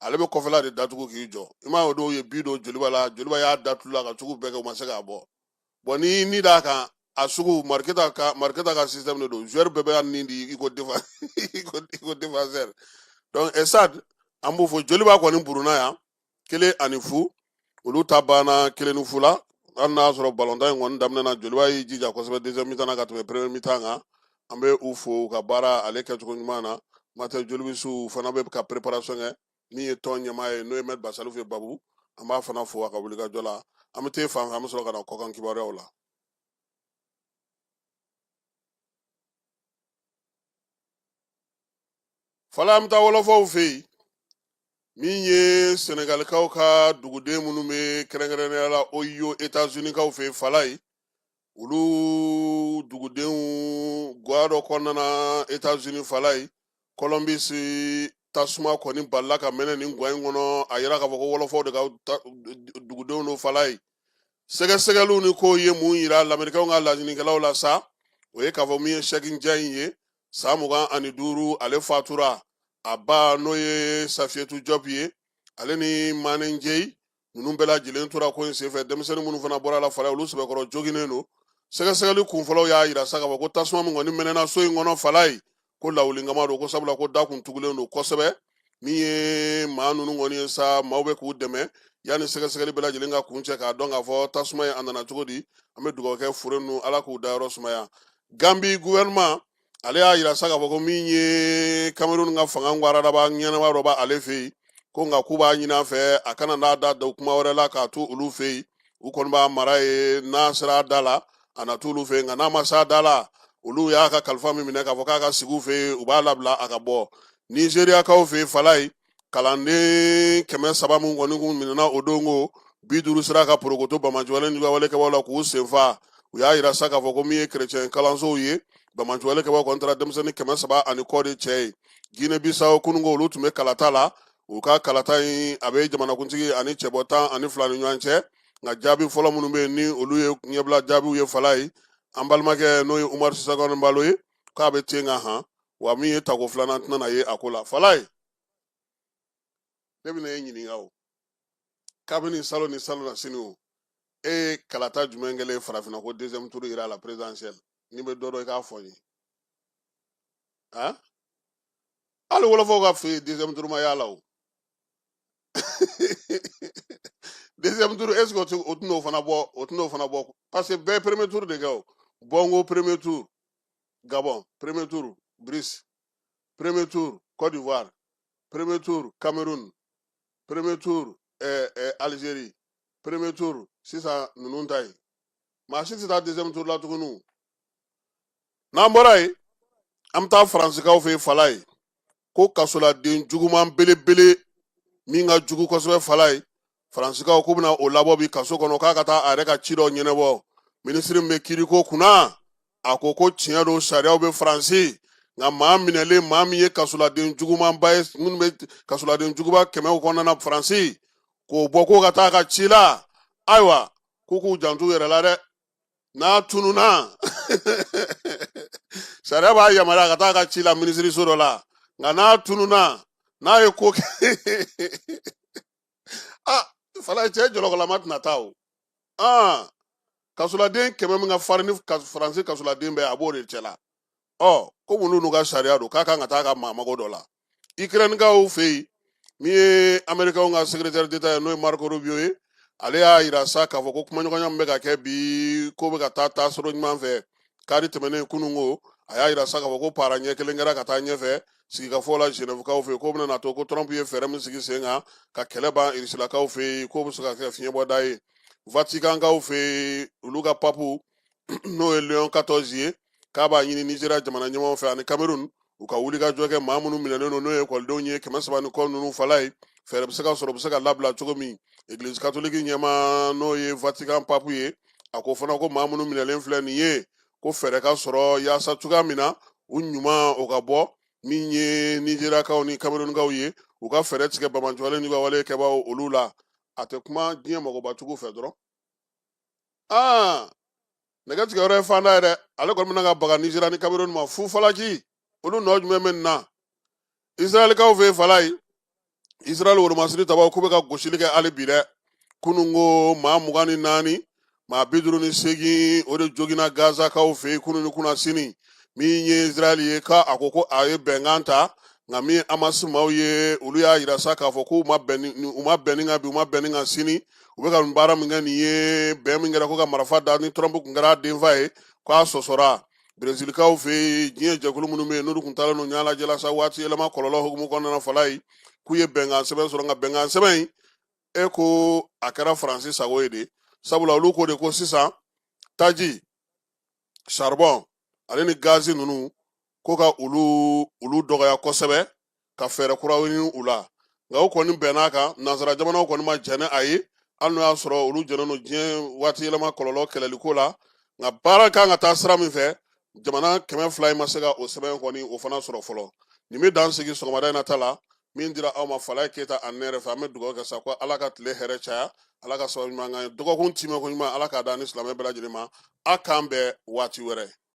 ale bɛ kɔfɛla de datugu k'i jɔ i m'a ye o dɔw ye bi don joliba la joliba y'a datugu la ka sugu bɛɛ kɛ u ma se k'a bɔ bon ni ni d'a kan a sugu mariketa ka mariketa ka système de don joueur bɛɛ bɛ ni di i ko defa i ko i ko défenseur donc stade an b'u fo joliba kɔni buruna yan kelen ani fu olu ta banna kelen ni fu la hali n'a sɔrɔ balontan in kɔni daminɛ na joliba y'i jija kosɛbɛ deuxième mi-temps na ka tɛmɛ premier mi-temps kan an bɛ u fo u ka baara ale kɛcogo ɲuman na matɛ jolibisiw fana bɛ ka préparation kɛ min ye tɔn ɲɛmaa ye n'o ye maître basalifu ye babu an b'a fana fo a ka wulikajɔ la an bɛ t'e fan fɛ an bɛ sɔrɔ ka na kɔkan kibaruyaw la fala an bɛ taa wɔlɔfɔw fɛ yen min ye sɛnɛgalikaw ka duguden minnu bɛ kɛrɛnkɛrɛnnenya la ohio etazunikaw fɛ yen falayi olu dugudenw guwa dɔ kɔnɔna na etazuni falayi kɔlɔnbisi tasuma kɔni balila ka mɛnɛ nin guwa in kɔnɔ a yira k'a fɔ ko wɔlɔfɔw de ka dugudenw don falayi sɛgɛsɛgɛliw ni kow ye mun yira lamerikɛnw ka laɲinikɛlaw la sa o ye k'a fɔ min ye sɛki njayi ye san mugan ani duuru ale fatura a ba n'o ye safiyɛtu jɔp ye ale ni mane njeyi ninnu bɛɛ lajɛlen tora ko in senfɛ denmisɛnnin minnu fana bɔr'a la falayi olu sɛbɛkɔrɔ joginnen don sɛgɛsɛgɛli kunfɔlɔw y'a yira sa k'a fɔ ko tasuma min kɔni mɛnɛna so in kɔnɔ falayi ko lawulinkama don ko sabula ko da kun tugulen don kosɛbɛ min ye maa ninnu kɔni ye sa maaw bɛ k'u dɛmɛ yanni sɛgɛsɛgɛli bɛɛ lajɛlen ka kuncɛ k'a dɔn k'a fɔ tasuma ye a nana cogo di an bɛ dugawu kɛ fure ninnu ala k'u dayɔrɔ sumaya ganbi gouvernement ale y'a yira sa k'a fɔ ko min ye kamerun ka fanga ŋwaradaba ɲɛnama dɔ b'ale fɛ yen ko nka k'u b'a ɲini a fɛ a kana n'a da don kuma wɛrɛ la k'a to olu fɛ yen u kɔni b'a mara ye n'a sera a da la a na t'olu fɛ nka n'a ma s'a da la olu y'a ka kalifa min minɛ k'a fɔ k'a ka sigi u fɛ yen u b'a labila a ka bɔ nizeriyakaw fɛ yen falayi kalanden kɛmɛ saba min kɔni kun minɛna o don ko bi duuru sera ka porokoto banbaanci juguwale kɛbaw la k'u senfa u y'a yira sa k'a fɔ ko min ye kerecɛn kalansow ye banbaanciwale kɛbaw kɔni taara denmisɛnnin kɛmɛ saba ani kɔ de cɛ ye guinee bissau kununko olu tun bɛ kalata la u ka kalata in a bɛ jamanakuntigi ani cɛbɔ tan ani fila ni ɲɔgɔn cɛ nka jaabi fɔlɔ minnu bɛ ni olu ye ɲɛbila jaabiw ye falayi an balimakɛ n'o ye umaru sisoko enbalo ye k'a bɛ ten kan han wa min ye tako filanan tɛna ye a ko la falayi ne bɛna e ɲininka o kabini salon ni salonnasini o e ye kalata jumɛn kɛlen farafinna ko deuxième tour yera à la présidentielle n'i bɛ dɔ dɔn i k'a fɔ n ye han hali wɔlɔfɔw ka fɛ deuxième tour ma y'a la o deuxième tour est ce que o tɛ- o tɛn'o fana bɔ o tɛn'o fana bɔ parce que bɛɛ ye premier tour de kɛ o bongo premier tour gabon premier tour brice premier tour côte d'ivoire premier tour cameroun premier tour eh, eh, algérie premier tour sisan ninnu ta ye maa si tɛ taa deuxième tour la tuguni o. n'an bɔra yen an bɛ taa faransikaw fɛ yen fala ye ko kasoladen juguman belebele min ka jugu kosɛbɛ fala ye faransikaw k'u bɛna o labɔ bi kaso kɔnɔ k'a ka taa a yɛrɛ ka ci dɔ ɲɛnabɔ minisiri min bɛ kiiriko kunna a ko ko tiɲɛ don sariyaw bɛ faransi nka maa minɛlen maa min ye kasoladen jugumanba ye minnu bɛ kasoladen juguba kɛmɛw kɔnɔna na faransi k'o bɔ k'o ka taa a ka ci la ayiwa k'u k'u janto u yɛrɛ la dɛ n'a tununa sariya b'a yamaruya ka taa a ka ci la minisiriso dɔ la nka n'a tununa n'a ye ko kɛ a ah, fala cɛ jɔlɔkɔlama tɛna taa o ah, kasoladen kɛmɛ min ka farin ni faransi kasoladen bɛɛ a b'o de cɛ la ɔ ko olu n'u ka sariya don k'a kan ka taa a ka maa mago dɔ la ikirɛnikaw fɛ yen min ye amerikɛnw ka sekiretɛri deta ye n'o ye mariko rubio ye ale y'a yira sa k'a fɔ ko kumaɲɔgɔnya min bɛ ka kɛ bi ko bɛ ka taa taasira ɲuman fɛ kari tɛmɛnen kunun ko a y'a yira sa k'a fɔ ko para ɲɛ kelen kɛra ka taa ɲɛfɛ sigikafɔ la genèvekaw fɛ k'o bɛna to ko trump ye fɛɛrɛ min sigi sen kan ka kɛlɛ ban irisilakaw fɛ yen k'o bɛ se ka kɛ fiɲɛbɔda ye vatikankaw fɛ yen olu ka papu n'o ye leon 14 ye k'a b'a ɲini nizeriya jamana ɲɛmaaw fɛ ani kamerun u ka wulikajɔ kɛ maa minnu minɛlen don n'o ye ekɔlidenw ye kɛmɛ saba ni kɔ ninnu fala ye fɛɛrɛ bɛ se ka sɔrɔ u bɛ se ka labila cogo min egilizi katoliki ɲɛmaa n'o ye vatikan papu ye a ko fana ko maa minnu minɛlen filɛ nin ye ko fɛɛrɛ ka sɔrɔ yaasa cogoya min na u ɲuman o ka bɔ min ye nizeriyakaw ni kamerunkaw ye u ka fɛɛrɛ tigɛ bamanjɔlen n'u ka wale kɛbaaw olu la a tɛ kuma diɲɛ mɔgɔba cogo fɛ dɔrɔn aa nɛgɛ tigɛ yɔrɔ ye fanda ye dɛ ale kɔni bɛna ka baga nizeriya ni kamerun ma fu falaki olu nɔ jumɛn bɛ nin na israɛlkaw fɛ yen fala ye israɛl woromasiri tabaaw k'u bɛ ka gosili kɛ hali bi dɛ kunun ko maa mugan ni naani maa bi duuru ni seegin o de joginna gazakaw fɛ yen kunun ni kunasini min ye israɛl ye ka a ko ko a ye bɛnkan ta nka min ye amasi maaw ye olu y'a yira sa k'a fɔ k'u ma bɛn ni u ma bɛn nin kan bi u ma bɛn nin kan sini u bɛ ka nin baara min kɛ nin ye bɛn min kɛra ko ka marifa da ni trump kun kɛra a denfa ye ko a sɔsɔra berezilikaw fɛ yen diɲɛ jɛkulu minnu bɛ yen n'olu kun taalen don yen lajɛ la sa waati yɛlɛma kɔlɔlɔ hukumu kɔnɔna fala ye k'u ye bɛnkan sɛbɛn sɔrɔ nka bɛnkan sɛbɛn in e ko a kɛra faransi sago ye de sabula olu ko de ko sisan taji saribɔn ale ni gazi ninnu ko ka olu olu dɔgɔya kosɛbɛ ka fɛɛrɛ kuraw ɲini u la nka o kɔni bɛnn'a kan nansara jamanaw kɔni ma jɛn ni a ye hali n'o y'a sɔrɔ olu jɛnnen don diɲɛ waati yɛlɛma kɔlɔlɔ kɛlɛliko la nka baara kan ka taa sira min fɛ jamana kɛmɛ fila in ma se ka o sɛbɛn kɔni o fana sɔrɔ fɔlɔ nin bɛ dan sigi sɔgɔmada in na ta la min dira aw ma falayi keyita ani ne yɛrɛ fɛ an bɛ dugawu kɛ sa ko ala ka tile hɛrɛ caya ala ka sababu ɲuman k'an ye dɔgɔkun timɛ ko ɲuman ala k'a da ni silamɛ bɛɛ lajɛlen ma a k'an bɛn waati wɛrɛ